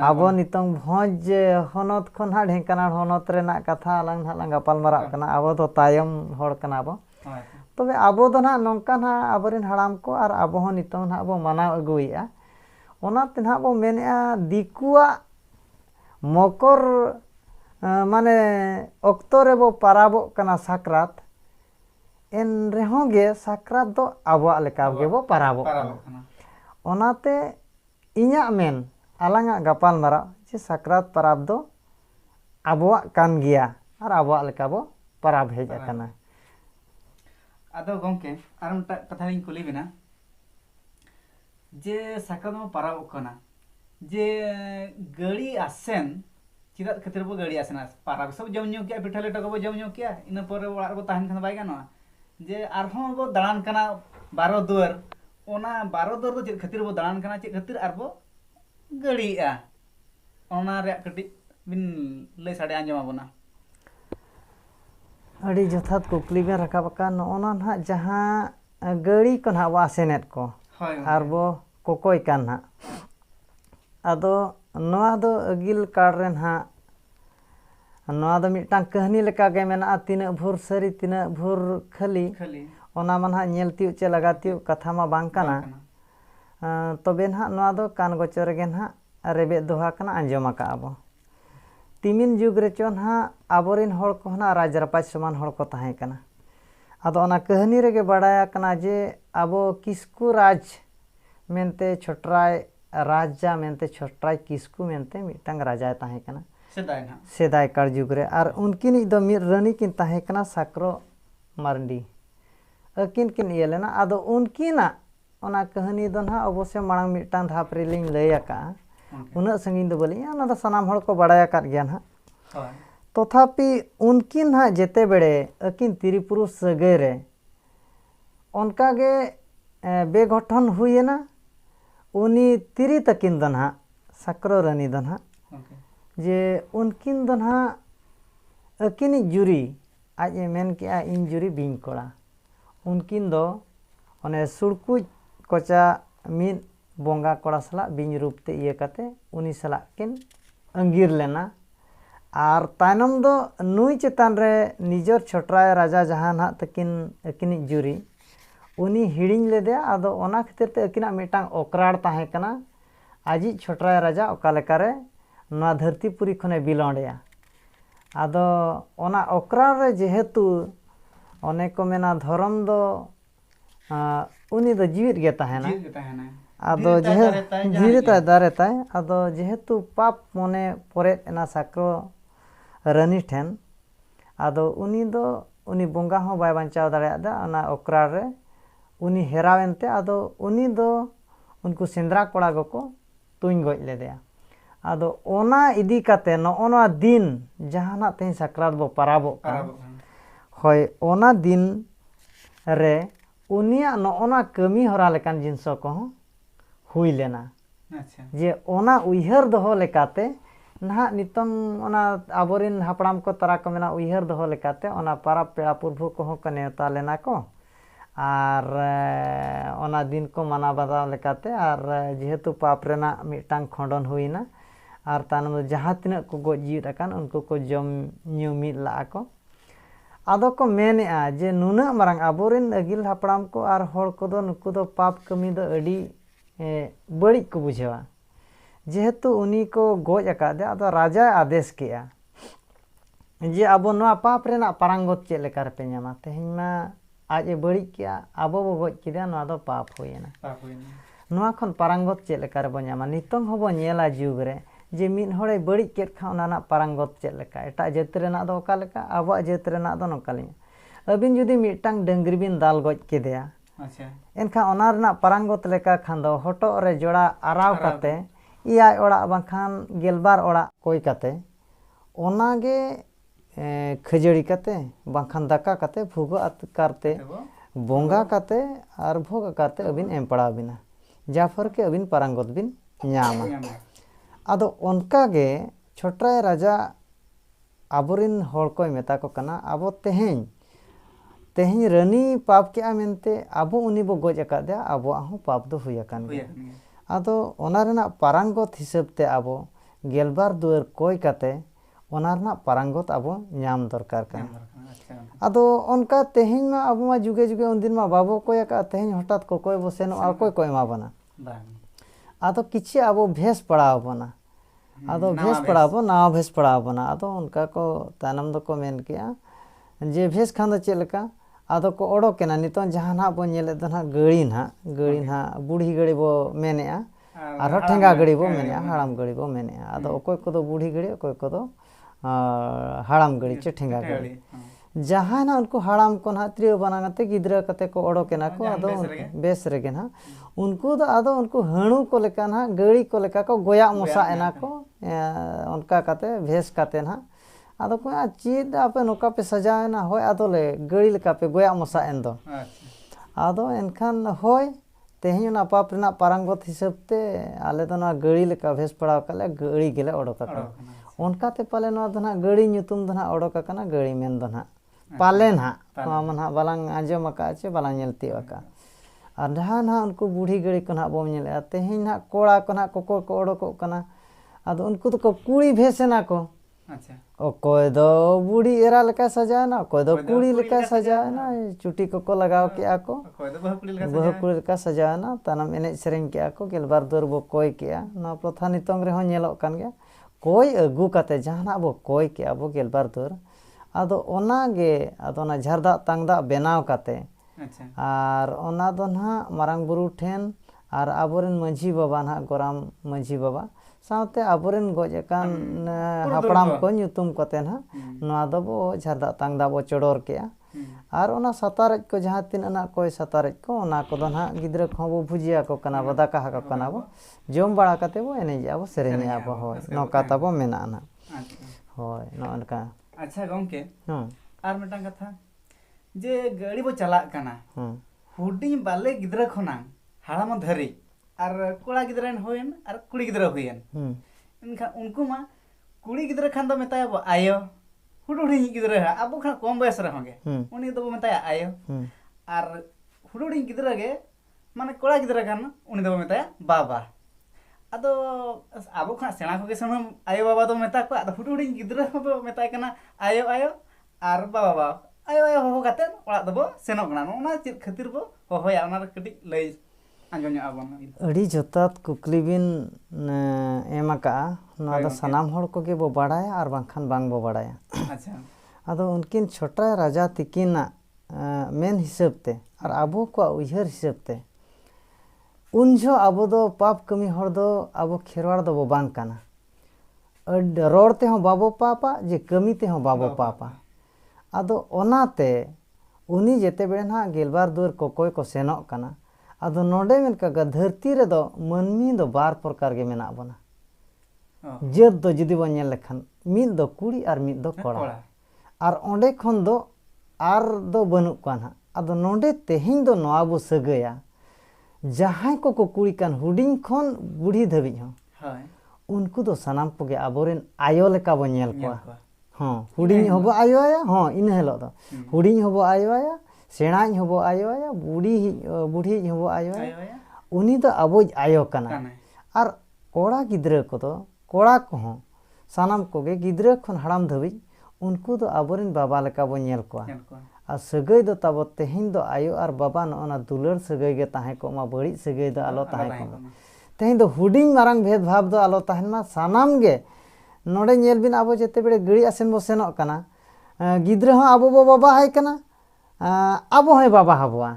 A: ᱟᱵᱚ ᱱᱤᱛᱚᱝ ᱵᱷᱚᱸᱡᱽ ᱦᱚᱱᱚᱛ ᱠᱷᱚᱱ ᱱᱟᱦᱟᱜ ᱰᱷᱮᱝᱠᱟᱱᱟᱲ ᱦᱚᱱᱚᱛ ᱨᱮᱱᱟᱜ ᱠᱟᱛᱷᱟ ᱟᱞᱟᱝ ᱱᱟᱦᱟᱜ ᱞᱟᱝ ᱜᱟᱯᱟᱞᱢᱟᱨᱟᱜ ᱠᱟᱱᱟ ᱟᱵᱚ ᱫᱚ ᱛᱟᱭᱚᱢ ᱦᱚᱲ ᱠᱟᱱᱟ ᱵᱚ ᱛᱚᱵᱮ ᱟᱵᱚ ᱫᱚ ᱱᱟᱦᱟᱜ ᱱᱚᱝᱠᱟ ᱱᱟᱦᱟᱜ ᱟᱵᱚᱨᱮᱱ ᱦᱟᱲᱟᱢ ᱠᱚ ᱟᱨ ᱟᱵᱚ ᱦᱚᱸ ᱱᱤᱛᱚᱝ ᱱᱟᱦᱟᱜ ᱵᱚ ᱢᱟᱱᱟᱣ ᱟᱹᱜᱩᱭᱮᱫᱼᱟ ᱚᱱᱟᱛᱮ ᱱᱟᱦᱟᱜ ᱵᱚ ᱢᱮᱱᱮᱫᱼᱟ ᱫᱤᱠᱩᱣᱟᱜ ᱢᱚᱠᱚᱨ ᱢᱟᱱᱮ ᱚᱠᱛᱚ ᱨᱮᱵᱚ ᱯᱟᱨᱟᱵᱚᱜ ᱠᱟᱱᱟ ᱥᱟᱠᱨᱟᱛ ᱮᱱ ᱨᱮᱦᱚᱸ ᱜᱮ ᱥᱟᱠᱨᱟᱛ ᱫᱚ ᱟᱵᱚᱣᱟᱜ ᱞᱮᱠᱟ ᱜᱮᱵᱚ ᱯᱟᱨᱟᱵᱚᱜ ᱠᱟᱱᱟ ᱚᱱᱟᱛᱮ ᱤᱧᱟᱹᱜ ᱢᱮᱱ ᱟᱞᱟᱝᱟᱜ ᱜᱟᱯᱟᱞᱢᱟᱨᱟᱣ ᱡᱮ ᱥᱟᱠᱨᱟᱛ ᱯᱟᱨᱟᱵᱽ ᱫᱚ ᱟᱵᱚᱣᱟᱜ ᱠᱟᱱ ᱜᱮᱭᱟ ᱟᱨ ᱟᱵᱚᱣᱟᱜ ᱞᱮᱠᱟ ᱵᱚ ᱯᱟᱨᱟᱵᱽ ᱦᱮᱡ ᱟᱠᱟᱱᱟ ᱟᱫᱚ ᱜᱚᱢᱠᱮ ᱟᱨ ᱢᱤᱫᱴᱟᱝ ᱠᱟᱛᱷᱟ ᱞᱤᱧ ᱠᱩᱞᱤ ᱵᱮᱱᱟ ᱡᱮ ᱥᱟᱠᱨᱟᱛ ᱵᱚᱱ ᱯᱟᱨᱟᱵᱚᱜ ᱠᱟᱱᱟ ᱡᱮ ᱜᱟᱹᱲᱤ ᱟᱥᱮᱱ ᱪᱮᱫᱟᱜ ᱠᱷᱟᱹᱛᱤᱨ ᱵᱚ ᱜᱟᱹᱲᱤ ᱟᱥᱮᱱᱟ ᱯᱟᱨᱟᱵᱽ ᱥᱚᱵ ᱡᱚᱢ ᱧᱩ ᱠᱮᱜᱼᱟ ᱯᱤᱴᱷᱟᱹ ᱞᱮᱴᱚ ᱠᱚᱵᱚ ᱡᱚᱢ ᱧᱩ ᱠᱮᱜᱼᱟ ᱤᱱᱟᱹ ᱯᱚᱨᱮ ᱚᱲᱟᱜ ᱨᱮᱵᱚ ᱛᱟᱦᱮᱱ ᱠᱷᱟᱱ ᱵᱟᱭ ᱜᱟᱱᱚᱜᱼᱟ ᱡᱮ ᱟᱨᱦᱚᱸ ᱵᱚ ᱫᱟᱬᱟᱱ ᱠᱟᱱᱟ ᱵᱟᱨᱚ ᱫᱩᱣᱟᱹᱨ ᱚᱱᱟ ᱵᱟᱨᱚ ᱫᱩᱣᱟᱹᱨ ᱫᱚ ᱪᱮᱫ ᱠᱷᱟᱹᱛᱤᱨ ᱵᱚ ᱫᱟᱬᱟᱱ ᱠᱟᱱᱟ ᱪᱮᱫ ᱠᱷᱟᱹᱛᱤᱨ ᱟᱨᱵᱚ ᱜᱟᱹᱲᱤᱭᱮᱜᱼᱟ ᱚᱱᱟ ᱨᱮᱭᱟᱜ ᱠᱟᱹᱴᱤᱡ ᱵᱤᱱ ᱞᱟᱹᱭ ᱥᱟᱰᱮ ᱟᱸᱡᱚᱢ ᱟᱵᱚᱱᱟ ᱟᱹᱰᱤ ᱡᱚᱛᱷᱟᱛ ᱠᱩᱠᱞᱤ ᱵᱮᱱ ᱨᱟᱠᱟᱵ ᱟᱠᱟᱫ ᱱᱚᱜᱼᱚ ᱱᱟ ᱱᱟᱦᱟᱜ ᱡᱟᱦᱟᱸ ᱜᱟᱹᱲᱤ ᱠᱚ ᱱᱟᱦᱟᱜ ᱵᱚ ᱟᱥᱮᱱᱮᱫ ᱠᱚ ᱟᱨ ᱵᱚ ᱠᱚᱠᱚᱭ ᱠᱟᱱ ᱱᱟᱦᱟᱜ ᱟᱫᱚ ᱱᱚᱣᱟ ᱫᱚ ᱟᱹᱜᱤᱞ ᱠᱟᱲ ᱨᱮ ᱱᱟᱦᱟᱜ ᱱᱚᱣᱟ ᱫᱚ ᱢᱤᱫᱴᱟᱝ ᱠᱟᱹᱦᱱᱤ ᱞᱮᱠᱟ ᱜᱮ ᱢᱮᱱᱟᱜᱼᱟ ᱛᱤᱱᱟᱹᱜ ᱵᱷᱳᱨ ᱥᱟᱹᱨᱤ ᱛᱤᱱᱟᱹᱜ ᱵᱷᱳᱨ ᱠᱷᱟᱹᱞᱤ ᱚᱱᱟ ᱢᱟ ᱱᱟᱦᱟᱜ ᱧᱮᱞ ᱛᱤᱭᱳᱜ ᱪᱮ ᱞᱟᱜᱟ ᱛᱤᱭᱳᱜ ᱠᱟᱛᱷᱟ ᱢᱟ ᱵᱟᱝ ᱠᱟᱱᱟ ᱛᱚᱵᱮ ᱱᱟᱦᱟᱜ ᱱᱚᱣᱟ ᱫᱚ ᱠᱟᱱ ᱜᱚᱪᱚ ᱨᱮᱜᱮ ᱱᱟᱦᱟᱜ ᱨᱮᱵᱮᱫ ᱫᱚᱦᱟ ᱠᱟᱱᱟ ᱟᱸᱡᱚᱢ ᱟᱠᱟᱜᱼᱟ ᱵᱚ ᱛᱤᱢᱤᱱ ᱡᱩᱜᱽ ᱨᱮᱪᱚ ᱱᱟᱦᱟᱜ ᱟᱵᱚᱨᱮᱱ ᱦᱚᱲ ᱠᱚ ᱱᱟᱦᱟᱜ ᱨᱟᱡᱽ ᱨᱟᱯᱟᱡᱽ ᱥᱚᱢᱟᱱ ᱦᱚᱲ ᱠᱚ ᱛᱟᱦᱮᱸ ᱠᱟᱱᱟ ᱟᱫᱚ ᱚᱱᱟ ᱠᱟᱹᱦᱱᱤ ᱨᱮᱜᱮ ᱵᱟᱲᱟᱭ ᱟᱠᱟᱱᱟ ᱡᱮ ᱟᱵᱚ ᱠᱤᱥᱠᱩ ᱨᱟᱡᱽ ᱢᱮᱱᱛᱮ ᱪᱷᱚᱴᱨᱟᱭ ᱨᱟᱡᱟ ᱢᱮᱱᱛᱮ ᱪᱷᱚᱴᱨᱟᱭ ᱠᱤᱥᱠᱩ ᱢᱮᱱᱛᱮ ᱢᱤᱫᱴᱟᱝ ᱨᱟᱡᱟᱭ ᱛᱟᱦᱮᱸ ᱠᱟᱱᱟ ᱥᱮᱫᱟᱭ ᱱᱟᱦᱟᱜ ᱥᱮᱫᱟᱭ ᱠᱟᱲ ᱡᱩᱜᱽ ᱨᱮ ᱟᱨ ᱩᱱᱠᱤᱱᱤᱡ ᱫᱚ ᱢᱤᱫ ᱨᱟᱹᱱᱤ ᱠᱤᱱ ᱛᱟᱦᱮᱸ ᱠᱟᱱᱟ ᱥᱟᱠᱨᱚ ᱢᱟᱨᱰᱤ ᱟᱹᱠᱤᱱ ᱠᱤᱱ ᱤᱭᱟᱹ ᱞᱮᱱᱟ ᱟᱫᱚ ᱩᱱᱠᱤᱱᱟᱜ ᱚᱱᱟ ᱠᱟᱹᱦᱱᱤ ᱫᱚ ᱱᱟᱦᱟᱜ ᱚᱵᱚᱥᱥᱚ ᱢᱟᱲᱟᱝ ᱢᱤᱫᱴᱟᱝ ᱫᱷᱟᱯ ᱨᱮᱞᱤᱧ ᱞᱟᱹᱭ ᱟᱠᱟᱫᱼᱟ ᱩᱱᱟᱹᱜ ᱥᱟᱺᱜᱤᱧ ᱫᱚ ᱵᱟᱹᱞᱤᱧ ᱚᱱᱟ ᱫᱚ ᱥᱟᱱᱟᱢ ᱦᱚᱲ ᱠᱚ ᱵᱟᱲᱟᱭ ᱟᱠᱟᱫ ᱜᱮᱭᱟ ᱱᱟᱦᱟᱜ ᱛᱚᱛᱷᱟᱯᱤ ᱩᱱᱠᱤᱱ ᱱᱟᱦᱟᱜ ᱡᱮᱛᱮ ᱵᱮᱲᱮ ᱟᱹᱠᱤᱱ ᱛᱤᱨᱤ ᱯᱩᱨᱩᱥ ᱥᱟᱹᱜᱟᱹᱭ ᱨᱮ ᱚᱱᱠᱟ ᱜᱮ ᱵᱮᱜᱷᱚᱴᱚᱱ ᱦᱩᱭᱮᱱᱟ ᱩᱱᱤ ᱛᱤᱨᱤ ᱛᱟᱹᱠᱤᱱ ᱫᱚ ᱱᱟᱦᱟᱜ ᱥᱟᱠᱨᱚ ᱨᱟᱹᱱᱤ ᱫᱚ ᱱᱟᱦᱟᱜ ᱡᱮ ᱩᱱᱠᱤᱱ ᱫᱚ ᱱᱟᱦᱟᱜ ᱟᱹᱠᱤᱱᱤᱡ ᱡᱩᱨᱤ ᱟᱡ ᱮ ᱢᱮᱱ ᱠᱮᱫᱼᱟ ᱤᱧ ᱡᱩᱨᱤ ᱵᱤᱧ ᱠᱚᱲᱟ᱾ ᱩᱱᱠᱤᱱ ᱫᱚ ᱚᱱᱮ ᱥᱩᱲᱠᱩᱡ ᱠᱚᱪᱟ ᱢᱤᱫ ᱵᱚᱸᱜᱟ ᱠᱚᱲᱟ ᱥᱟᱞᱟᱜ ᱵᱤᱧ ᱨᱩᱯ ᱛᱮ ᱤᱭᱟᱹ ᱠᱟᱛᱮ ᱩᱱᱤ ᱥᱟᱞᱟᱜ ᱠᱤᱱ ᱟᱺᱜᱤᱨ ᱞᱮᱱᱟ ᱟᱨ ᱛᱟᱭᱱᱚᱢ ᱫᱚ ᱱᱩᱭ ᱪᱮᱛᱟᱱ ᱨᱮ ᱱᱤᱡᱚᱨ ᱪᱷᱚᱴᱨᱟᱭ ᱨᱟᱡᱟ ᱡᱟᱦᱟᱸ ᱱᱷᱟᱜ ᱛᱟᱹᱠᱤᱱ ᱟᱹᱠᱤᱱᱤᱡ ᱡᱩᱨᱤ ᱩᱱᱤ ᱦᱤᱲᱤᱧ ᱞᱮᱫᱮᱭᱟ ᱟᱫᱚ ᱚᱱᱟ ᱠᱷᱟᱹᱛᱤᱨ ᱛᱮ ᱟᱹᱠᱤᱱᱟᱜ ᱢᱤᱫᱴᱟᱝ ᱚᱠᱨᱟᱲ ᱛᱟᱦᱮᱸ ᱠᱟᱱᱟ ᱟᱡᱤᱡ ᱪᱷᱚᱴᱨᱟᱭ ᱨᱟᱡᱟ ᱚᱠᱟ ᱞᱮᱠᱟᱨᱮ ᱱᱚᱣᱟ ᱫᱷᱟᱹᱨᱛᱤ ᱯᱩᱨᱤ ᱠᱷᱚᱱᱮ ᱵᱤᱞᱚᱸᱰ ᱮᱭᱟ᱾ ᱟᱫᱚ ᱚᱱᱟ ᱚᱠᱨᱟᱲ ᱨᱮ ᱡᱮᱦᱮᱛᱩ ᱚᱱᱮ ᱠᱚ ᱢᱮᱱᱟ ᱫᱷᱚᱨᱚᱢ ᱫᱚ ᱩᱱᱤ ᱫᱚ ᱡᱤᱣᱤᱫ ᱜᱮ ᱛᱟᱦᱮᱱᱟ᱾ ᱡᱤᱣᱤᱫ ᱜᱮ ᱛᱟᱦᱮᱱᱟᱭ᱾ ᱟᱫᱚ ᱫᱷᱤᱨᱤ ᱛᱟᱭ ᱫᱟᱨᱮ ᱛᱟᱭ ᱡᱟᱦᱟᱱᱤᱡ ᱫᱷᱤᱨᱤ ᱜᱮ᱾ ᱛᱟᱭ ᱫᱟᱨᱮ ᱛᱟᱭ᱾ ᱟᱫᱚ ᱡᱮᱦᱮᱛᱩ ᱯᱟᱯ ᱢᱚᱱᱮ ᱯᱚᱨᱮᱫ ᱮᱱᱟ ᱥᱟᱠᱨᱚ ᱨᱟᱹᱱᱤ ᱴᱷᱮᱱ᱾ ᱟᱫᱚ ᱩᱱᱤ ᱫᱚ ᱩᱱᱤ ᱵᱚᱸᱜᱟ ᱦᱚᱸ ᱵᱟᱭ ᱵᱟᱧᱪᱟᱣ ᱫᱟᱲᱮᱭᱟᱫᱟ ᱚᱱᱟ ᱚᱠᱨᱟᱲ ᱨᱮ ᱩᱱᱤ ᱦᱮᱨᱟᱣ ᱮᱱᱛᱮ ᱟᱫᱚ ᱩᱱᱤ ᱫᱚ ᱩᱱᱠᱩ ᱥᱮᱸᱫᱽᱨᱟ ᱠᱚᱲᱟ ᱜᱚᱠᱚ ᱛᱩᱧ ᱜᱚᱡ ᱞᱮᱫᱮᱭᱟ ᱟᱫᱚ ᱚᱱᱟ ᱤᱫᱤ ᱠᱟᱛᱮ ᱱᱚᱜᱼᱚ ᱱᱚᱣᱟ ᱫᱤᱱ ᱡᱟᱦᱟᱸ ᱱᱟᱜ ᱛᱮᱦᱮᱧ ᱥᱟᱠᱨᱟᱛ ᱵᱚ ᱯᱟᱨᱟᱵᱚᱜ ᱠᱟᱱ ᱦᱳᱭ ᱚᱱᱟ ᱫᱤᱱ ᱨᱮ ᱩᱱᱤᱭᱟᱜ ᱱᱚᱜᱼᱚ ᱱᱚᱣᱟ ᱠᱟᱹᱢᱤ ᱦᱚᱨᱟ ᱞᱮᱠᱟᱱ ᱡᱤᱱᱤᱥ ᱠᱚᱦᱚᱸ ᱦᱩᱭ ᱞᱮᱱᱟ ᱟᱪᱪᱷᱟ ᱡᱮ ᱚᱱᱟ ᱩᱭᱦᱟᱹᱨ ᱫᱚᱦᱚ ᱞᱮᱠᱟᱛᱮ ᱱᱟᱦᱟᱜ ᱱᱤᱛᱚᱝ ᱚᱱᱟ ᱟᱵᱚᱨᱮᱱ ᱦᱟᱯᱲᱟᱢ ᱠᱚ ᱛᱟᱨᱟ ᱠᱚ ᱢᱮᱱᱟ ᱩᱭᱦᱟᱹᱨ ᱫᱚᱦᱚ ᱞᱮᱠᱟᱛᱮ ᱚᱱᱟ ᱯᱟᱨᱟᱵᱽ ᱯᱮᱲᱟ ᱯᱩᱨᱵᱷᱩ ᱠᱚᱦᱚᱸ ᱠᱚ ᱱᱮᱣᱛᱟ ᱞᱮᱱᱟ ᱠᱚ ᱟᱨ ᱚᱱᱟ ᱫᱤᱱ ᱠᱚ ᱢᱟᱱᱟᱣ ᱵᱟᱛᱟᱣ ᱞᱮᱠᱟᱛᱮ ᱟᱨ ᱡᱮᱦᱮᱛᱩ ᱯᱟᱯ ᱨᱮᱱᱟᱜ ᱢᱤᱫᱴᱟᱝ ᱠᱷᱚᱸᱰᱚᱱ ᱦᱩᱭᱱᱟ ᱟᱨ ᱛᱟᱭᱱᱚᱢ ᱫᱚ ᱡᱟᱦᱟᱸ ᱛᱤᱱᱟᱹᱜ ᱠᱚ ᱜᱚᱡ ᱡᱤᱣᱤᱫ ᱟᱠᱟᱱ ᱩᱱᱠᱩ ᱠᱚ ᱡᱚᱢ ᱧᱩ ᱢᱤᱫ ᱞᱟᱜᱼᱟ ᱠᱚ ᱟᱫᱚ ᱠᱚ ᱢᱮᱱᱮᱜᱼᱟ ᱡᱮ ᱱᱩᱱᱟᱹᱜ ᱢᱟᱨᱟᱝ ᱟᱵᱚᱨᱮᱱ ᱟᱹᱜᱤᱞ ᱦᱟᱯᱲᱟᱢ ᱠᱚ ᱟᱨ ᱦᱚᱲ ᱠᱚᱫᱚ ᱱᱩᱠᱩ ᱫᱚ ᱯᱟᱯ ᱠᱟᱹᱢᱤ ᱫᱚ ᱟᱹᱰᱤ ᱵᱟᱹᱲᱤᱡ ᱠᱚ ᱵᱩᱡᱷᱟᱹᱣᱟ᱾ ᱡᱮᱦᱮᱛᱩ ᱩᱱᱤ ᱠᱚ ᱜᱚᱡ ᱟᱠᱟᱫᱮᱭᱟ ᱟᱫᱚ ᱨᱟᱡᱟᱭ ᱟᱫᱮᱥ ᱠᱮᱫᱼᱟ ᱡᱮ ᱟᱵᱚ ᱱᱚᱶᱟ ᱯᱟᱯ ᱨᱮᱱᱟᱜ ᱯᱟᱨᱟᱝᱜᱚᱛ ᱪᱮᱫ ᱞᱮᱠᱟ ᱨᱮᱯᱮ ᱧᱟᱢᱟ? ᱛᱮᱦᱮᱧ ᱢᱟ ᱟᱡ ᱮ ᱵᱟᱹᱲᱤᱡ ᱠᱮᱫᱼᱟ, ᱟᱵᱚ ᱵᱚ ᱜᱚᱡ ᱠᱮᱫᱮᱭᱟ ᱱᱚᱶᱟ ᱫᱚ ᱯᱟᱯ ᱦᱩᱭ ᱮᱱᱟ᱾ ᱱᱚᱶᱟ ᱠᱷᱚᱱ ᱯᱟᱨᱟᱝᱜᱚᱛ ᱪᱮᱫ ᱞᱮᱠᱟ ᱨᱮᱵᱚ ᱧᱟᱢᱟ? ᱱᱤᱛᱚᱝ ᱦᱚᱸ ᱵᱚ ᱧᱮᱞᱟ ᱡᱩᱜᱽ ᱨᱮ ᱡᱮ ᱢᱤᱫ ᱦᱚᱲ ᱮ ᱵᱟᱹᱲᱤᱡ ᱠᱮᱫ ᱠᱷᱟᱱ ᱚᱱᱟ ᱨᱮᱱᱟᱜ ᱯᱟᱨᱟᱝᱜᱚᱛ ᱪᱮᱫ ᱞᱮᱠᱟ? ᱮᱴᱟᱜ ᱡᱟᱹᱛ ᱨᱮᱱᱟᱜ ᱫᱚ ᱚᱠᱟ ᱞᱮᱠᱟ? ᱟᱵᱚᱣᱟᱜ ᱡᱟᱹᱛ ᱨᱮᱱᱟᱜ ᱫᱚ ᱱᱚᱝᱠᱟ ᱞᱤᱧ ᱟᱹᱵᱤᱱ ᱡᱩᱫᱤ ᱢᱤᱫᱴᱟᱹᱝ ᱰᱟᱹᱝᱨᱤ ᱵᱤᱱ ᱫᱟᱞ ᱜᱚᱡ ᱠᱮᱫᱮᱭᱟ ᱮᱱᱠᱷᱟᱱ ᱚᱱᱟ ᱨᱮᱱᱟᱜ ᱯᱟᱨᱟᱝᱜᱚᱛ ᱞᱮᱠᱟ ᱠᱷᱟᱱ ᱫᱚ ᱦᱚᱴᱚᱜ ᱨᱮ ᱡᱚᱲᱟ ᱟᱨᱟᱣ ᱠᱟᱛᱮ ᱮᱭᱟᱭ ᱚᱲᱟᱜ ᱵᱟᱝᱠᱷᱟᱱ ᱜᱮᱞᱵᱟᱨ ᱚᱲᱟᱜ ᱠᱚᱭ ᱠᱟᱛᱮ ᱚᱱᱟ ᱜᱮ ᱠᱷᱟᱹᱡᱟᱹᱲᱤ ᱠᱟᱛᱮ ᱵᱟᱝᱠᱷᱟᱱ ᱫᱟᱠᱟ ᱠᱟᱛᱮ ᱵᱷᱳᱜ ᱟᱠᱟᱨ ᱛᱮ ᱵᱚᱸᱜᱟ ᱠᱟᱛᱮ ᱟᱨ ᱵᱷᱳᱜ ᱟᱠᱟᱨ ᱛᱮ ᱟᱹᱵᱤᱱ ᱮᱢ ᱯᱟᱲᱟᱣ ᱵᱤᱱᱟ ᱡᱟᱯᱷᱚᱨ ᱠᱮ ᱟᱹᱵᱤᱱ ᱯᱟᱨᱟᱝᱜᱚᱛ ᱵᱤᱱ ᱧᱟᱢᱟ ᱟᱫᱚ ᱚᱱᱠᱟ ᱜᱮ ᱪᱷᱚᱴᱨᱟᱭ ᱨᱟᱡᱟ ᱟᱵᱚᱨᱤᱱ ᱦᱚᱲ ᱠᱚᱭ ᱢᱮᱛᱟ ᱠᱚ ᱠᱟᱱᱟ ᱟᱵᱚ ᱛᱮᱦᱮᱧ ᱛᱮᱦᱮᱧ ᱨᱟᱹᱱᱤ ᱯᱟᱯ ᱠᱮᱜᱼᱟ ᱢᱮᱱᱛᱮ ᱟᱵᱚ ᱩᱱᱤ ᱵᱚ ᱜᱚᱡ ᱟᱠᱟᱫᱮᱭᱟ ᱟᱵᱚᱣᱟᱜ ᱦᱚᱸ ᱯᱟᱯ ᱫᱚ ᱦᱩᱭ ᱟᱠᱟᱱ ᱜᱮᱭᱟ ᱟᱫᱚ ᱚᱱᱟ ᱨᱮᱱᱟᱜ ᱯᱟᱨᱟᱝᱜᱚᱛ ᱦᱤᱥᱟᱹᱵ ᱛᱮ ᱟᱵᱚ ᱜᱮᱞᱵᱟᱨ ᱫᱩᱣᱟᱹᱨ ᱠᱚᱭ ᱠᱟᱛᱮ ᱚᱱᱟ ᱨᱮᱱᱟᱜ ᱯᱟᱨᱟᱝᱜᱚᱛ ᱟᱵᱚ ᱧᱟᱢ ᱫᱚᱨᱠᱟᱨ ᱠᱟᱱᱟ ᱟᱫᱚ ᱚᱱᱠᱟ ᱛᱮᱦᱮᱧ ᱢᱟ ᱟᱵᱚ ᱢᱟ ᱡᱩᱜᱮ ᱡᱩᱜᱮ ᱩᱱᱫᱤᱱ ᱢᱟ ᱵᱟᱵᱚ ᱠᱚᱭ ᱟᱠᱟᱫᱼᱟ ᱛᱮᱦᱮᱧ ᱦᱚᱴᱟᱛ ᱠᱚᱠᱚᱭ ᱵᱚ ᱥᱮᱱᱚᱜᱼᱟ ᱚᱠᱚᱭ ᱠᱚ ᱮᱢᱟ ᱵᱚᱱᱟ ᱟᱫᱚ ᱠᱤᱪᱷᱤ ᱟᱵᱚ ᱵᱷᱮᱥ ᱯᱟᱲᱟᱣ ᱟᱵᱚᱱᱟ ᱟᱫᱚ ᱵᱷᱮᱥ ᱯᱟᱲᱟᱣ ᱟᱵᱚᱱ ᱱᱟᱣᱟ ᱵᱷᱮᱥ ᱯᱟᱲᱟᱣ ᱟᱵᱚᱱᱟ ᱟᱫᱚ ᱚᱱᱠᱟ ᱠᱚ ᱛᱟᱭᱱᱚᱢ ᱫᱚᱠᱚ ᱢᱮᱱ ᱠᱮᱜᱼᱟ ᱡᱮ ᱵᱷᱮᱥ ᱠᱷᱟᱱ ᱫᱚ ᱪᱮᱫ ᱞᱮᱠᱟ ᱟᱫᱚ ᱠᱚ ᱚᱰᱚᱠ ᱮᱱᱟ ᱱᱤᱛᱚᱝ ᱡᱟᱦᱟᱸ ᱱᱟᱦᱟᱜ ᱵᱚᱱ ᱧᱮᱞᱮᱫ ᱫᱚ ᱱᱟᱦᱟᱜ ᱜᱟᱹᱲᱤ ᱱᱟᱦᱟᱜ ᱜᱟᱹᱲᱤ ᱱᱟᱦᱟᱜ ᱵᱩᱲᱦᱤ ᱜᱟᱹᱲᱤ ᱵᱚ ᱢᱮᱱᱮᱜᱼᱟ ᱟᱨᱦᱚᱸ ᱴᱷᱮᱸᱜᱟ ᱜᱟᱹᱲᱤ ᱵᱚ ᱢᱮᱱᱮᱜᱼᱟ ᱦᱟᱲᱟᱢ ᱜᱟᱹᱲᱤ ᱵᱚ ᱢᱮᱱᱮᱜᱼᱟ ᱟᱫᱚ ᱚᱠᱚᱭ ᱠᱚᱫᱚ ᱵᱩᱲᱦᱤ ᱜᱟᱹᱲᱤ ᱚᱠᱚᱭ ᱠᱚᱫᱚ ᱦᱟᱲᱟᱢ ᱜᱟᱹᱲᱤ ᱪᱮ ᱴᱷᱮᱸᱜᱟ ᱜᱟᱹᱲᱤ ᱡᱟᱦᱟᱸᱭ ᱱᱟᱜ ᱩᱱᱠᱩ ᱦᱟᱲᱟᱢ ᱠᱚ ᱱᱟᱜ ᱛᱤᱨᱭᱳ ᱵᱟᱱᱟᱝ ᱟᱛᱮ ᱜᱤᱫᱽᱨᱟᱹ ᱠᱟᱛᱮ ᱠᱚ ᱚᱰᱚᱠ ᱮᱱᱟ ᱠᱚ ᱟᱫᱚ ᱵᱮᱥ ᱨᱮᱜᱮ ᱱᱟᱜ ᱩᱱᱠᱩ ᱫᱚ ᱟᱫᱚ ᱩᱱᱠᱩ ᱦᱟᱹᱬᱩ ᱠᱚ ᱞᱮᱠᱟ ᱱᱟᱜ ᱜᱟᱹᱲᱤ ᱠᱚ ᱞᱮᱠᱟ ᱠᱚ ᱜᱚᱭᱟᱜ ᱢᱚᱥᱟᱜ ᱮᱱᱟ ᱠᱚ ᱚᱱᱠᱟ ᱠᱟᱛᱮ ᱵᱷᱮᱥ ᱠᱟᱛᱮ ᱱᱟᱜ ᱟᱫᱚ ᱠᱚ ᱢᱮᱱᱟ ᱪᱮᱫ ᱟᱯᱮ ᱱᱚᱝᱠᱟ ᱯᱮ ᱥᱟᱡᱟᱣ ᱮᱱᱟ ᱦᱳᱭ ᱟᱫᱚᱞᱮ ᱜᱟᱹᱲᱤ ᱞᱮᱠᱟ ᱯᱮ ᱜᱚᱭᱟᱜ ᱢᱚᱥᱟᱜ ᱮᱱ ᱫᱚ ᱟᱫᱚ ᱮᱱᱠᱷᱟᱱ ᱦᱳᱭ ᱛᱮᱦᱮᱧ ᱚᱱᱟ ᱟᱯᱟᱯ ᱨᱮᱱᱟᱜ ᱯᱟᱨᱟᱝᱜᱚᱛ ᱦᱤᱥᱟᱹᱵ ᱛᱮ ᱟᱞᱮ ᱫᱚ ᱱᱚᱣᱟ ᱜᱟᱹᱲᱤ ᱞᱮ ᱠᱟᱵᱷᱮᱥ ᱯᱟᱲᱟᱣ ᱟᱠᱟᱫ ᱞᱮᱭᱟ ᱜᱟᱹᱲᱤ ᱜᱮᱞᱮ ᱚᱰᱚᱠ ᱟᱠᱟᱱᱟ ᱚᱱᱠᱟ ᱛᱮ ᱯᱟᱞᱮ ᱱᱚᱣᱟ ᱫᱚ ᱱᱟᱦᱟᱜ ᱜᱟᱹᱲᱤ ᱧᱩᱛᱩᱢ ᱫᱚ ᱱᱟᱦᱟᱜ ᱚᱰᱚᱠ ᱟᱠᱟᱱᱟ ᱜᱟᱹᱲᱤ ᱢᱮᱱ ᱫᱚ ᱱᱟᱦᱟᱜ ᱯᱟᱞᱮ ᱱᱟᱦᱟᱜ ᱱᱚᱣᱟ ᱢᱟ ᱱᱟᱦᱟᱜ ᱵᱟᱞᱟᱝ ᱟᱸᱡᱚᱢ ᱟᱠᱟᱫᱼᱟ ᱪᱮ ᱵᱟᱞᱟᱝ ᱧᱮᱞ ᱛᱤᱭᱳᱜ ᱟᱠᱟᱫᱼᱟ ᱟᱨ ᱡᱟᱦᱟᱸ ᱱᱟᱦᱟᱜ ᱩᱱᱠᱩ ᱵᱩᱲᱦᱤ ᱜᱟᱹᱲᱤ ᱠᱚ ᱱᱟᱦᱟᱜ ᱵᱚᱱ ᱧᱮᱞᱮᱫᱼᱟ ᱛᱮᱦᱮᱧ ᱱᱟᱦᱟᱜ ᱠᱚᱲᱟ ᱠᱚ ᱱᱟᱦᱟᱜ ᱠᱚᱠᱚ ᱠᱚ ᱚᱰᱚᱠᱚᱜ ᱠᱟᱱᱟ ᱟᱫᱚ ᱩᱱᱠᱩ ᱫᱚᱠᱚ ᱠᱩᱲᱤ ᱵᱷᱮᱥ ᱮᱱᱟ ᱠᱚ ᱟᱪᱪᱷᱟ ᱚᱠᱚᱭ ᱫᱚ ᱵᱩᱲᱦᱤ ᱮᱨᱟ ᱞᱮᱠᱟ ᱥᱟᱡᱟᱣᱱᱟ ᱚᱠᱚᱭ ᱫᱚ ᱠᱩᱲᱤ ᱞᱮᱠᱟ ᱥᱟᱡᱟᱣᱱᱟ ᱪᱩᱴᱤ ᱠᱚᱠᱚ ᱞᱟᱜᱟᱣ ᱠᱮᱜᱼᱟ ᱠᱚ ᱵᱟᱹᱦᱩ ᱠᱩᱲᱤ ᱞᱮᱠᱟ ᱥᱟᱡᱟᱣᱱᱟ ᱛᱟᱭᱱᱚᱢ ᱮᱱᱮᱡ ᱥᱮᱨᱮᱧ ᱠᱮᱜᱼᱟ ᱠᱚ ᱜᱮᱞᱵᱟᱨ ᱫᱩᱣᱟᱹᱨ ᱵᱚ ᱠᱚᱭ ᱠᱮᱜᱼᱟ ᱱᱚᱣᱟ ᱯᱨᱚᱛᱷᱟ ᱱᱤᱛᱚᱝ ᱨᱮᱦᱚᱸ ᱧᱮᱞᱚᱜ ᱠᱟᱱ ᱜᱮᱭᱟ ᱠᱚᱭ ᱟᱹᱜᱩ ᱠᱟᱛᱮ ᱡᱟᱦᱟᱱᱟᱜ ᱵᱚ ᱠᱚᱭ ᱠᱮᱜᱼᱟ ᱵᱚ ᱜᱮᱞᱵᱟᱨ ᱫᱩᱣᱟᱹᱨ ᱟᱫᱚ ᱚᱱᱟᱜᱮ ᱟᱫᱚ ᱚᱱᱟ ᱡᱷᱟᱨ ᱫᱟᱜ ᱛᱟᱝ ᱫᱟᱜ ᱵᱮᱱᱟᱣ ᱠᱟᱛᱮ ᱟᱨ ᱚᱱᱟ ᱫᱚ ᱱᱟᱦᱟᱜ ᱢᱟᱨᱟᱝ ᱵᱩᱨᱩ ᱴᱷᱮᱱ ᱟᱨ ᱟᱵᱚᱨᱮᱱ ᱢᱟᱺᱡᱷᱤ ᱵᱟᱵᱟ ᱱᱟᱦᱟᱜ ᱜᱚᱨᱟᱢ ᱢᱟᱺᱡᱷᱤ ᱵᱟᱵᱟ ᱥᱟᱶᱛᱮ ᱟᱵᱚᱨᱮᱱ ᱜᱚᱡ ᱟᱠᱟᱱ ᱦᱟᱯᱲᱟᱢ ᱠᱚ ᱧᱩᱛᱩᱢ ᱠᱚᱛᱮ ᱱᱟᱦᱟᱜ ᱱᱚᱣᱟ ᱫᱚᱵᱚ ᱡᱷᱟᱨᱫᱟ ᱟᱛᱟᱝ ᱫᱟᱜ ᱵᱚ ᱪᱚᱰᱚᱨ ᱠᱮᱜᱼᱟ ᱟᱨ ᱚᱱᱟ ᱥᱟᱛᱟᱨᱮᱡ ᱠᱚ ᱡᱟᱦᱟᱸ ᱛᱤᱱᱟᱹᱜ ᱱᱟᱦᱟᱜ ᱠᱚᱭ ᱥᱟᱛᱟᱨᱮᱡ ᱠᱚ ᱚᱱᱟ ᱠᱚᱫᱚ ᱱᱟᱦᱟᱜ ᱜᱤᱫᱽᱨᱟᱹ ᱠᱚᱦᱚᱸ ᱵᱚ ᱵᱷᱩᱡᱤ ᱟᱠᱚ ᱠᱟᱱᱟ ᱵᱚ ᱫᱟᱠᱟ ᱟᱠᱚ ᱠᱟᱱᱟ ᱵᱚ ᱡᱚᱢ ᱵᱟᱲᱟ ᱠᱟᱛᱮᱫ ᱵᱚ ᱮᱱᱮᱡᱮᱜᱼᱟ ᱵᱚ ᱥᱮᱨᱮᱧᱮᱜᱼᱟ ᱵᱚ ᱦᱳᱭ ᱱᱚᱝᱠᱟ ᱛᱟᱵᱚ ᱢᱮᱱᱟᱜᱼᱟ ᱱᱟᱦᱟᱜ ᱦᱳᱭ ᱱᱚᱜᱼᱚ ᱱᱚᱝᱠᱟ ᱟᱪᱪᱷᱟ ᱜᱚᱢᱠᱮ ᱟᱨ ᱢᱤᱫᱴᱟᱝ ᱠᱟᱛᱷᱟ ᱡᱮ ᱜᱟᱹᱲᱤ ᱵᱚ ᱪᱟᱞᱟᱜ ᱠᱟᱱᱟ ᱦᱩᱰᱤᱧ ᱵᱟᱞᱮ ᱜᱤᱫᱽᱨᱟᱹ ᱠᱷᱚᱱᱟᱝ ᱦᱟᱲᱟᱢ ᱫᱷᱟᱹᱨᱤᱡ ᱟᱨ ᱠᱚᱲᱟ ᱜᱤᱫᱽᱨᱟᱹ ᱦᱩᱭᱮᱱ ᱟᱨ ᱠᱩᱲᱤ ᱜᱤᱫᱽᱨᱟᱹ ᱦᱩᱭᱮᱱ ᱮᱱᱠᱷᱟᱱ ᱩᱱᱠᱩ ᱢᱟ ᱠᱩᱲᱤ ᱜᱤᱫᱽᱨᱟᱹ ᱠᱷᱟᱱ ᱫᱚ ᱢᱮᱛᱟᱭᱟᱵᱚ ᱟᱭᱳ ᱦᱩᱰᱩᱲᱤᱧ ᱜᱤᱫᱽᱨᱟᱹ ᱦᱟᱸᱜ ᱟᱵᱚ ᱠᱷᱟᱱ ᱠᱚᱢ ᱵᱚᱭᱮᱥ ᱨᱮᱦᱚᱸ ᱜᱮ ᱩᱱᱤ ᱫᱚᱵᱚ ᱢᱮᱛᱟᱭᱟ ᱟᱭᱳ ᱟᱨ ᱦᱩᱰᱩᱲᱤᱧ ᱜᱤᱫᱽᱨᱟᱹ ᱜᱮ ᱢᱟᱱᱮ ᱠᱚᱲᱟ ᱜᱤᱫᱽᱨᱟᱹ ᱠᱷᱟᱱ ᱩᱱᱤ ᱫᱚᱵᱚ ᱢᱮᱛᱟᱭᱟ ᱵᱟᱵᱟ ᱟᱫᱚ ᱟᱵᱚ ᱠᱷᱚᱱᱟᱜ ᱥᱮᱬᱟ ᱠᱚᱜᱮ ᱥᱟᱱᱟᱢ ᱟᱭᱳ ᱵᱟᱵᱟ ᱫᱚ ᱢᱮᱛᱟ ᱠᱚᱣᱟ ᱟᱫᱚ ᱦᱩᱰᱩᱲᱤᱧ ᱜᱤᱫᱽᱨᱟᱹ ᱦᱚᱸᱵᱚ ᱢᱮᱛᱟᱭ ᱠᱟᱱᱟ ᱟᱭᱳ ᱟᱭᱳ ᱟᱨ ᱵᱟᱵᱟ ᱵᱟᱵᱟ ᱟᱭᱳ ᱟᱭᱳ ᱦᱚᱦᱚ ᱠᱟᱛᱮᱫ ᱚᱲᱟᱜ ᱫᱚᱵᱚ ᱥᱮᱱᱚᱜ ᱠᱟᱱᱟ ᱱᱚᱜᱼᱚ ᱱᱚᱣᱟ ᱪᱮᱫ ᱠᱷᱟᱹᱛᱤᱨ ᱵᱚ ᱦᱚᱦᱚᱭᱟ ᱚᱱᱟ ᱨᱮ ᱠᱟᱹᱴᱤᱡ ᱞᱟᱹᱭ ᱟᱸᱡᱚᱢ ᱧᱚᱜ ᱟᱵᱚᱱ᱾ ᱟᱹᱰᱤ ᱡᱚᱛᱷᱟᱛ ᱠᱩᱠᱞᱤ ᱵᱤᱱ ᱮᱢ ᱟᱠᱟᱜᱼᱟ᱾ ᱱᱚᱣᱟ ᱫᱚ ᱥᱟᱱᱟᱢ ᱦᱚᱲ ᱠᱚᱜᱮ ᱵᱚ ᱵᱟᱲᱟᱭᱟ ᱟᱨ ᱵᱟᱝᱠᱷᱟᱱ ᱵᱟᱝ ᱵᱚ ᱵᱟᱲᱟᱭᱟ᱾ ᱟᱫᱚ ᱩᱱᱠᱤᱱ ᱪᱷᱚᱴᱟ ᱨᱟᱡᱟ ᱛᱤᱠᱤᱱᱟᱜ ᱢᱮᱱ ᱦᱤᱥᱟᱹᱵᱽ ᱛᱮ ᱟᱨ ᱟᱵᱚ ᱠᱚᱣᱟᱜ ᱩᱭᱦᱟᱹᱨ ᱦᱤᱥᱟᱹᱵᱽ ᱛᱮ ᱩᱱ ᱡᱷᱚᱜ ᱟᱵᱚ ᱫᱚ ᱯᱟᱯ ᱠᱟᱹᱢᱤ ᱦᱚᱲ ᱫᱚ ᱟᱵᱚ ᱠᱷᱮᱨᱣᱟᱲ ᱫᱚ ᱵᱚ ᱵᱟᱝ ᱠᱟᱱᱟ᱾ ᱟᱹᱰ ᱨᱚᱲ ᱛᱮᱦᱚᱸ ᱵᱟᱵᱚ ᱯᱟᱯᱟ ᱡᱮ ᱠᱟᱹᱢᱤ ᱛᱮᱦᱚᱸ ᱵᱟᱵᱚ ᱯᱟᱯᱟ᱾ ᱟᱫᱚ ᱚᱱᱟ ᱛᱮ ᱩᱱᱤ ᱡᱮᱛᱮ ᱵᱮᱲᱮ ᱱᱷᱟᱜ ᱜᱮᱞᱵᱟᱨ ᱫᱩᱣᱟᱹᱨ ᱠᱚᱠᱚᱭ ᱠᱚ ᱥᱮᱱᱚᱜ ᱠᱟᱱᱟ᱾ ᱟᱫᱚ ᱱᱚᱸᱰᱮ ᱢᱮᱱ ᱠᱟᱜᱟ ᱫᱷᱟᱹᱨᱛᱤ ᱨᱮᱫᱚ ᱢᱟᱹᱱᱢᱤ ᱫᱚ ᱵᱟᱨ ᱯᱨᱚᱠᱟᱨ ᱜᱮ ᱢᱮᱱᱟᱜ ᱵᱚᱱᱟ᱾ ᱡᱟᱹᱛ ᱫᱚ ᱡᱩᱫᱤ ᱵᱚᱱ ᱧᱮᱞ ᱞᱮᱠᱷᱟᱱ ᱢᱤᱫ ᱫᱚ ᱠᱩᱲᱤ ᱟᱨ ᱢᱤᱫ ᱫᱚ ᱠᱚᱲᱟ᱾ ᱟᱨ ᱚᱸᱰᱮ ᱠᱷᱚᱱ ᱫᱚ ᱟᱨ ᱫᱚ ᱵᱟᱹᱱᱩᱜ ᱠᱚᱣᱟ ᱱᱷᱟᱜ᱾ ᱟᱫᱚ ᱱᱚᱸᱰᱮ ᱛᱮᱦᱮᱧ ᱫᱚ ᱱᱚᱶᱟ ᱵᱚ ᱥᱟᱹᱜᱟᱹᱭᱟ ᱡᱟᱦᱟᱸᱭ ᱠᱚᱠᱚ ᱠᱩᱲᱤ ᱠᱟᱱ ᱦᱩᱰᱤᱧ ᱠᱷᱚᱱ ᱵᱩᱰᱷᱤ ᱫᱷᱟᱹᱵᱤᱡ ᱦᱚᱸ ᱩᱱᱠᱩ ᱫᱚ ᱥᱟᱱᱟᱢ ᱠᱚᱜᱮ ᱟᱵᱚ ᱨᱮᱱ ᱟᱭᱳ ᱞᱮᱠᱟ ᱵᱚ ᱧᱮᱞ ᱠᱚᱣᱟ᱾ ᱦᱚᱸ ᱦᱩᱰᱤᱧ ᱦᱚᱵᱚ ᱟᱭᱳ ᱟᱭᱟ ᱦᱚᱸ ᱤᱱᱟᱹ ᱦᱤᱞᱳᱜ ᱫᱚ ᱦᱩᱰᱤᱧ ᱦᱚᱵᱚ ᱟᱭᱳ ᱟᱭᱟ ᱥᱮᱬᱟᱧ ᱦᱚᱵᱚ ᱟᱭᱳ ᱟᱭᱟ ᱵᱩᱰᱤ ᱵᱩᱰᱷᱤᱧ ᱦᱚᱵᱚ ᱟᱭᱳ ᱟᱭᱟ ᱩᱱᱤ ᱫᱚ ᱟᱵᱚᱭ ᱟᱭᱳ ᱠᱟᱱᱟ ᱟᱨ ᱠᱚᱲᱟ ᱜᱤᱫᱽᱨᱟᱹ ᱠᱚᱫᱚ ᱠᱚᱲᱟ ᱠᱚᱦᱚᱸ ᱥᱟᱱᱟᱢ ᱠᱚᱜᱮ ᱜᱤᱫᱽᱨᱟᱹ ᱠᱷᱚᱱ ᱦᱟᱲᱟᱢ ᱫᱷᱟᱹᱵᱤᱡ ᱩᱱᱠᱩ ᱫᱚ ᱟᱵᱚᱨᱮᱱ ᱵᱟᱵᱟ ᱞᱮᱠᱟ ᱵᱚᱱ ᱧᱮᱞ ᱠᱚᱣᱟ ᱟᱨ ᱥᱟᱹᱜᱟᱹᱭ ᱫᱚ ᱛᱟᱵᱚ ᱛᱮᱦᱮᱧ ᱫᱚ ᱟᱭᱳ ᱟᱨ ᱵᱟᱵᱟ ᱱᱚᱜᱼᱚ ᱱᱟ ᱫᱩᱞᱟᱹᱲ ᱥᱟᱹᱜᱟᱹᱭ ᱜᱮ ᱛᱟᱦᱮᱸ ᱠᱚᱜ ᱢᱟ ᱵᱟᱹᱲᱤᱡ ᱥᱟᱹᱜᱟᱹᱭ ᱫᱚ ᱟᱞᱚ ᱛᱟᱦᱮᱸ ᱠᱚᱜ ᱢᱟ ᱛᱮᱦᱮᱧ ᱫᱚ ᱦᱩᱰᱤᱧ ᱢᱟᱨᱟᱝ ᱵᱷᱮᱫᱽ ᱵᱷᱟᱵᱽ ᱫᱚ ᱟᱞᱚ ᱛᱟᱦᱮᱱ ᱢᱟ ᱥᱟᱱᱟᱢ ᱜᱮ ᱱᱚᱰᱮ ᱧᱮᱞ ᱵᱤᱱ ᱟᱵᱚ ᱡᱮᱛᱮ ᱵᱮᱲᱮ ᱜᱟᱹᱲᱤ ᱟᱥᱮᱱ ᱵᱚ ᱥᱮᱱᱚᱜ ᱠᱟᱱᱟ ᱜᱤᱫᱽᱨᱟᱹ ᱦᱚᱸ ᱟᱵᱚ ᱵᱚ ᱵᱟᱵᱟ ᱦᱟᱭ ᱠᱟᱱᱟ ᱟᱵᱚ ᱦᱚᱸᱭ ᱵᱟᱵᱟ ᱦᱟᱵᱚᱣᱟ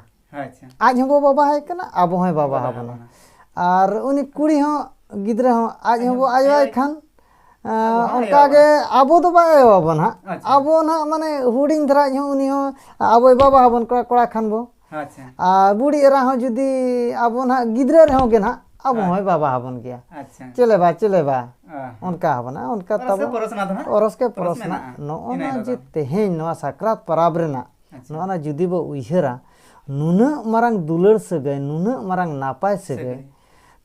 A: ᱟᱡ ᱦᱚᱸ ᱵᱚ ᱵᱟᱵᱟ ᱦᱟᱭ ᱠᱟᱱᱟ ᱟᱵᱚ ᱦᱚᱸᱭ ᱵᱟᱵᱟ ᱦᱟᱵᱚᱱᱟ ᱟᱨ ᱩᱱᱤ ᱠᱩᱲᱤ ᱦᱚᱸ ᱜᱤᱫᱽᱨᱟᱹ ᱦᱚᱸ ᱟᱡ ᱦᱚᱸ ᱵᱚ ᱟᱭᱳ ᱟᱭ ᱠᱷᱟᱱ ᱚᱱᱠᱟ ᱜᱮ ᱟᱵᱚ ᱫᱚ ᱵᱟᱭ ᱟᱭᱳ ᱟᱵᱚᱱ ᱦᱟᱸᱜ ᱟᱵᱚ ᱱᱟᱦᱟᱜ ᱢᱟᱱᱮ ᱦᱩᱰᱤᱧ ᱫᱷᱟᱨᱟ ᱤᱡ ᱦᱚᱸ ᱩᱱᱤ ᱦᱚᱸ ᱟᱵᱚᱭ ᱵᱟᱵᱟ ᱦᱟᱵᱚᱱ ᱠᱚᱲᱟ ᱠᱷᱟᱱ ᱵᱚ ᱟᱪᱪᱷᱟ ᱟᱨ ᱵᱩᱲᱤ ᱮᱨᱟ ᱦᱚᱸ ᱡᱩᱫᱤ ᱟᱵᱚ ᱱᱟᱦᱟᱜ ᱜᱤᱫᱽᱨᱟᱹ ᱨᱮᱦᱚᱸ ᱜᱮ ᱱᱟᱦᱟᱜ ᱟᱵᱚ ᱦᱚᱸᱭ ᱵᱟᱵᱟ ᱟᱵᱚᱱ ᱜᱮᱭᱟ ᱟᱪᱪᱷᱟ ᱪᱮᱞᱮ ᱵᱟ ᱪᱮᱞᱮ ᱵᱟ ᱚᱱᱠᱟ ᱟᱵᱚᱱᱟ ᱚᱱᱠᱟ ᱛᱟᱵᱚ ᱚᱨᱚᱥ ᱠᱮ ᱯᱚᱨᱚᱥ ᱱᱟ ᱱᱚᱜᱼᱚ ᱱᱟ ᱡᱮ ᱛᱮᱦᱮᱧ ᱱᱚᱣᱟ ᱥᱟᱠᱨᱟᱛ ᱯᱟᱨᱟᱵᱽ ᱨᱮᱱᱟᱜ ᱱᱚᱜᱼᱚ ᱱᱟ ᱡᱩᱫᱤ ᱵᱚ ᱩᱭᱦᱟᱹᱨᱟ ᱱᱩᱱᱟᱹᱜ ᱢᱟᱨᱟᱝ ᱫᱩᱞᱟᱹᱲ ᱥᱟᱹᱜᱟᱹᱭ ᱱᱩᱱᱟᱹᱜ ᱢᱟᱨᱟᱝ ᱱᱟᱯᱟᱭ ᱥᱟᱹᱜᱟᱹᱭ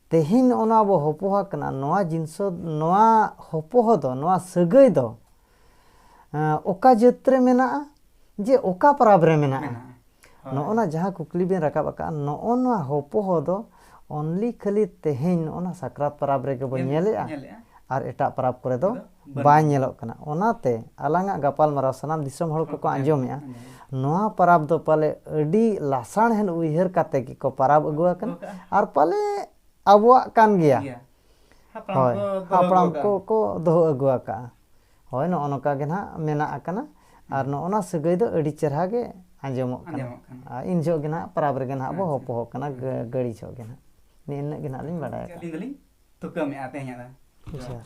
A: ᱛᱮᱦᱮᱧ ᱱᱚᱜᱼᱚ ᱱᱟ ᱵᱚ ᱦᱚᱯᱚᱦᱟ ᱠᱟᱱᱟ ᱱᱚᱣᱟ ᱡᱤᱱᱥᱚ ᱱᱚᱣᱟ ᱦᱚᱯᱚᱦᱚ ᱫᱚ ᱱᱚᱣᱟ ᱥᱟᱹᱜᱟᱹᱭ ᱫᱚ ᱚᱠᱟ ᱡᱟᱹᱛ ᱨᱮ ᱢᱮᱱᱟᱜᱼᱟ ᱡᱮ ᱚᱠᱟ ᱯᱟᱨᱟᱵᱽ ᱨᱮ ᱢᱮᱱᱟᱜᱼᱟ ᱱᱚᱜᱼᱚ ᱱᱟ ᱡᱟᱦᱟᱸ ᱠᱩᱠᱞᱤ ᱵᱮᱱ ᱨᱟᱠᱟᱵ ᱟᱠᱟᱫᱼᱟ ᱱᱚᱜᱼᱚ ᱱᱚᱣᱟ ᱦᱚᱯᱚᱦᱚ ᱫᱚ ᱚᱱᱞᱤ ᱠᱷᱟᱹᱞᱤ ᱛᱮᱦᱮᱧ ᱱᱚᱜᱼᱚ ᱱᱟ ᱥᱟᱠᱨᱟᱛ ᱯᱟᱨᱟᱵᱽ ᱨᱮᱜᱮ ᱵᱚᱱ ᱧᱮᱞᱮᱜᱼᱟ ᱟᱨ ᱮᱴᱟᱜ ᱯᱟᱨᱟᱵᱽ ᱠᱚᱨᱮ ᱫᱚ ᱵᱟᱭ ᱧᱮᱞᱚᱜ ᱠᱟᱱᱟ ᱚᱱᱟᱛᱮ ᱟᱞᱟᱝᱟᱜ ᱜᱟᱯᱟᱞᱢᱟᱨᱟᱣ ᱥᱟᱱᱟᱢ ᱫᱤᱥᱚᱢ ᱦᱚᱲ ᱠᱚᱠᱚ ᱟᱸᱡᱚᱢᱮᱜᱼᱟ ᱱᱚᱣᱟ ᱯᱟᱨᱟᱵᱽ ᱫᱚ ᱯᱟᱞᱮ ᱟᱹᱰᱤ ᱞᱟᱥᱟᱬᱦᱮᱫ ᱩᱭᱦᱟᱹᱨ ᱠᱟᱛᱮ ᱜᱮᱠᱚ ᱯᱟᱨᱟᱵᱽ ᱟᱹᱜᱩ ᱟᱠᱟᱱᱟ ᱟᱨ ᱯᱟᱞᱮ ᱟᱵᱚᱣᱟᱜ ᱠᱟᱱ ᱜᱮᱭᱟ ᱦᱳᱭ ᱦᱟᱯᱲᱟᱢ ᱠᱚ ᱠᱚ ᱫᱚᱦᱚ ᱟᱹᱜᱩ ᱟᱠᱟᱫᱼᱟ ᱦᱳᱭ ᱱᱚᱜᱼᱚ ᱱᱚᱝᱠᱟ ᱜᱮ ᱱᱟᱦᱟᱜ ᱢᱮᱱᱟᱜ ᱟᱠᱟᱱᱟ ᱟᱨ ᱱᱚᱜᱼᱚ ᱱᱚᱣᱟ ᱥᱟᱹᱜᱟᱹᱭ ᱫᱚ ᱟᱹᱰᱤ ᱪᱮᱨᱦᱟ ᱜᱮ ᱟᱸᱡᱚᱢᱚᱜ ᱠᱟᱱᱟ ᱟᱨ ᱤᱱ ᱡᱚᱦᱚᱜ ᱜᱮ ᱱᱟᱦᱟᱜ ᱯᱟᱨᱟᱵᱽ ᱨᱮᱜᱮ ᱱᱟᱦᱟᱜ ᱵᱚ ᱦᱚᱯᱚ ᱦᱚᱜ ᱠᱟᱱᱟ ᱜᱟᱹᱲᱤ ᱡᱚᱦᱚᱜ ᱜᱮ ᱱᱟᱦᱟᱜ ᱱᱤᱱᱟᱹᱜ ᱜᱮ ᱱᱟᱦᱟᱜ ᱞᱤᱧ ᱵᱟᱲᱟᱭ ᱟᱠᱟᱫᱼᱟ ᱛᱩᱠᱟᱹᱢᱮᱫᱼᱟ ᱛᱮᱦᱮᱧᱟᱜ ᱫᱚ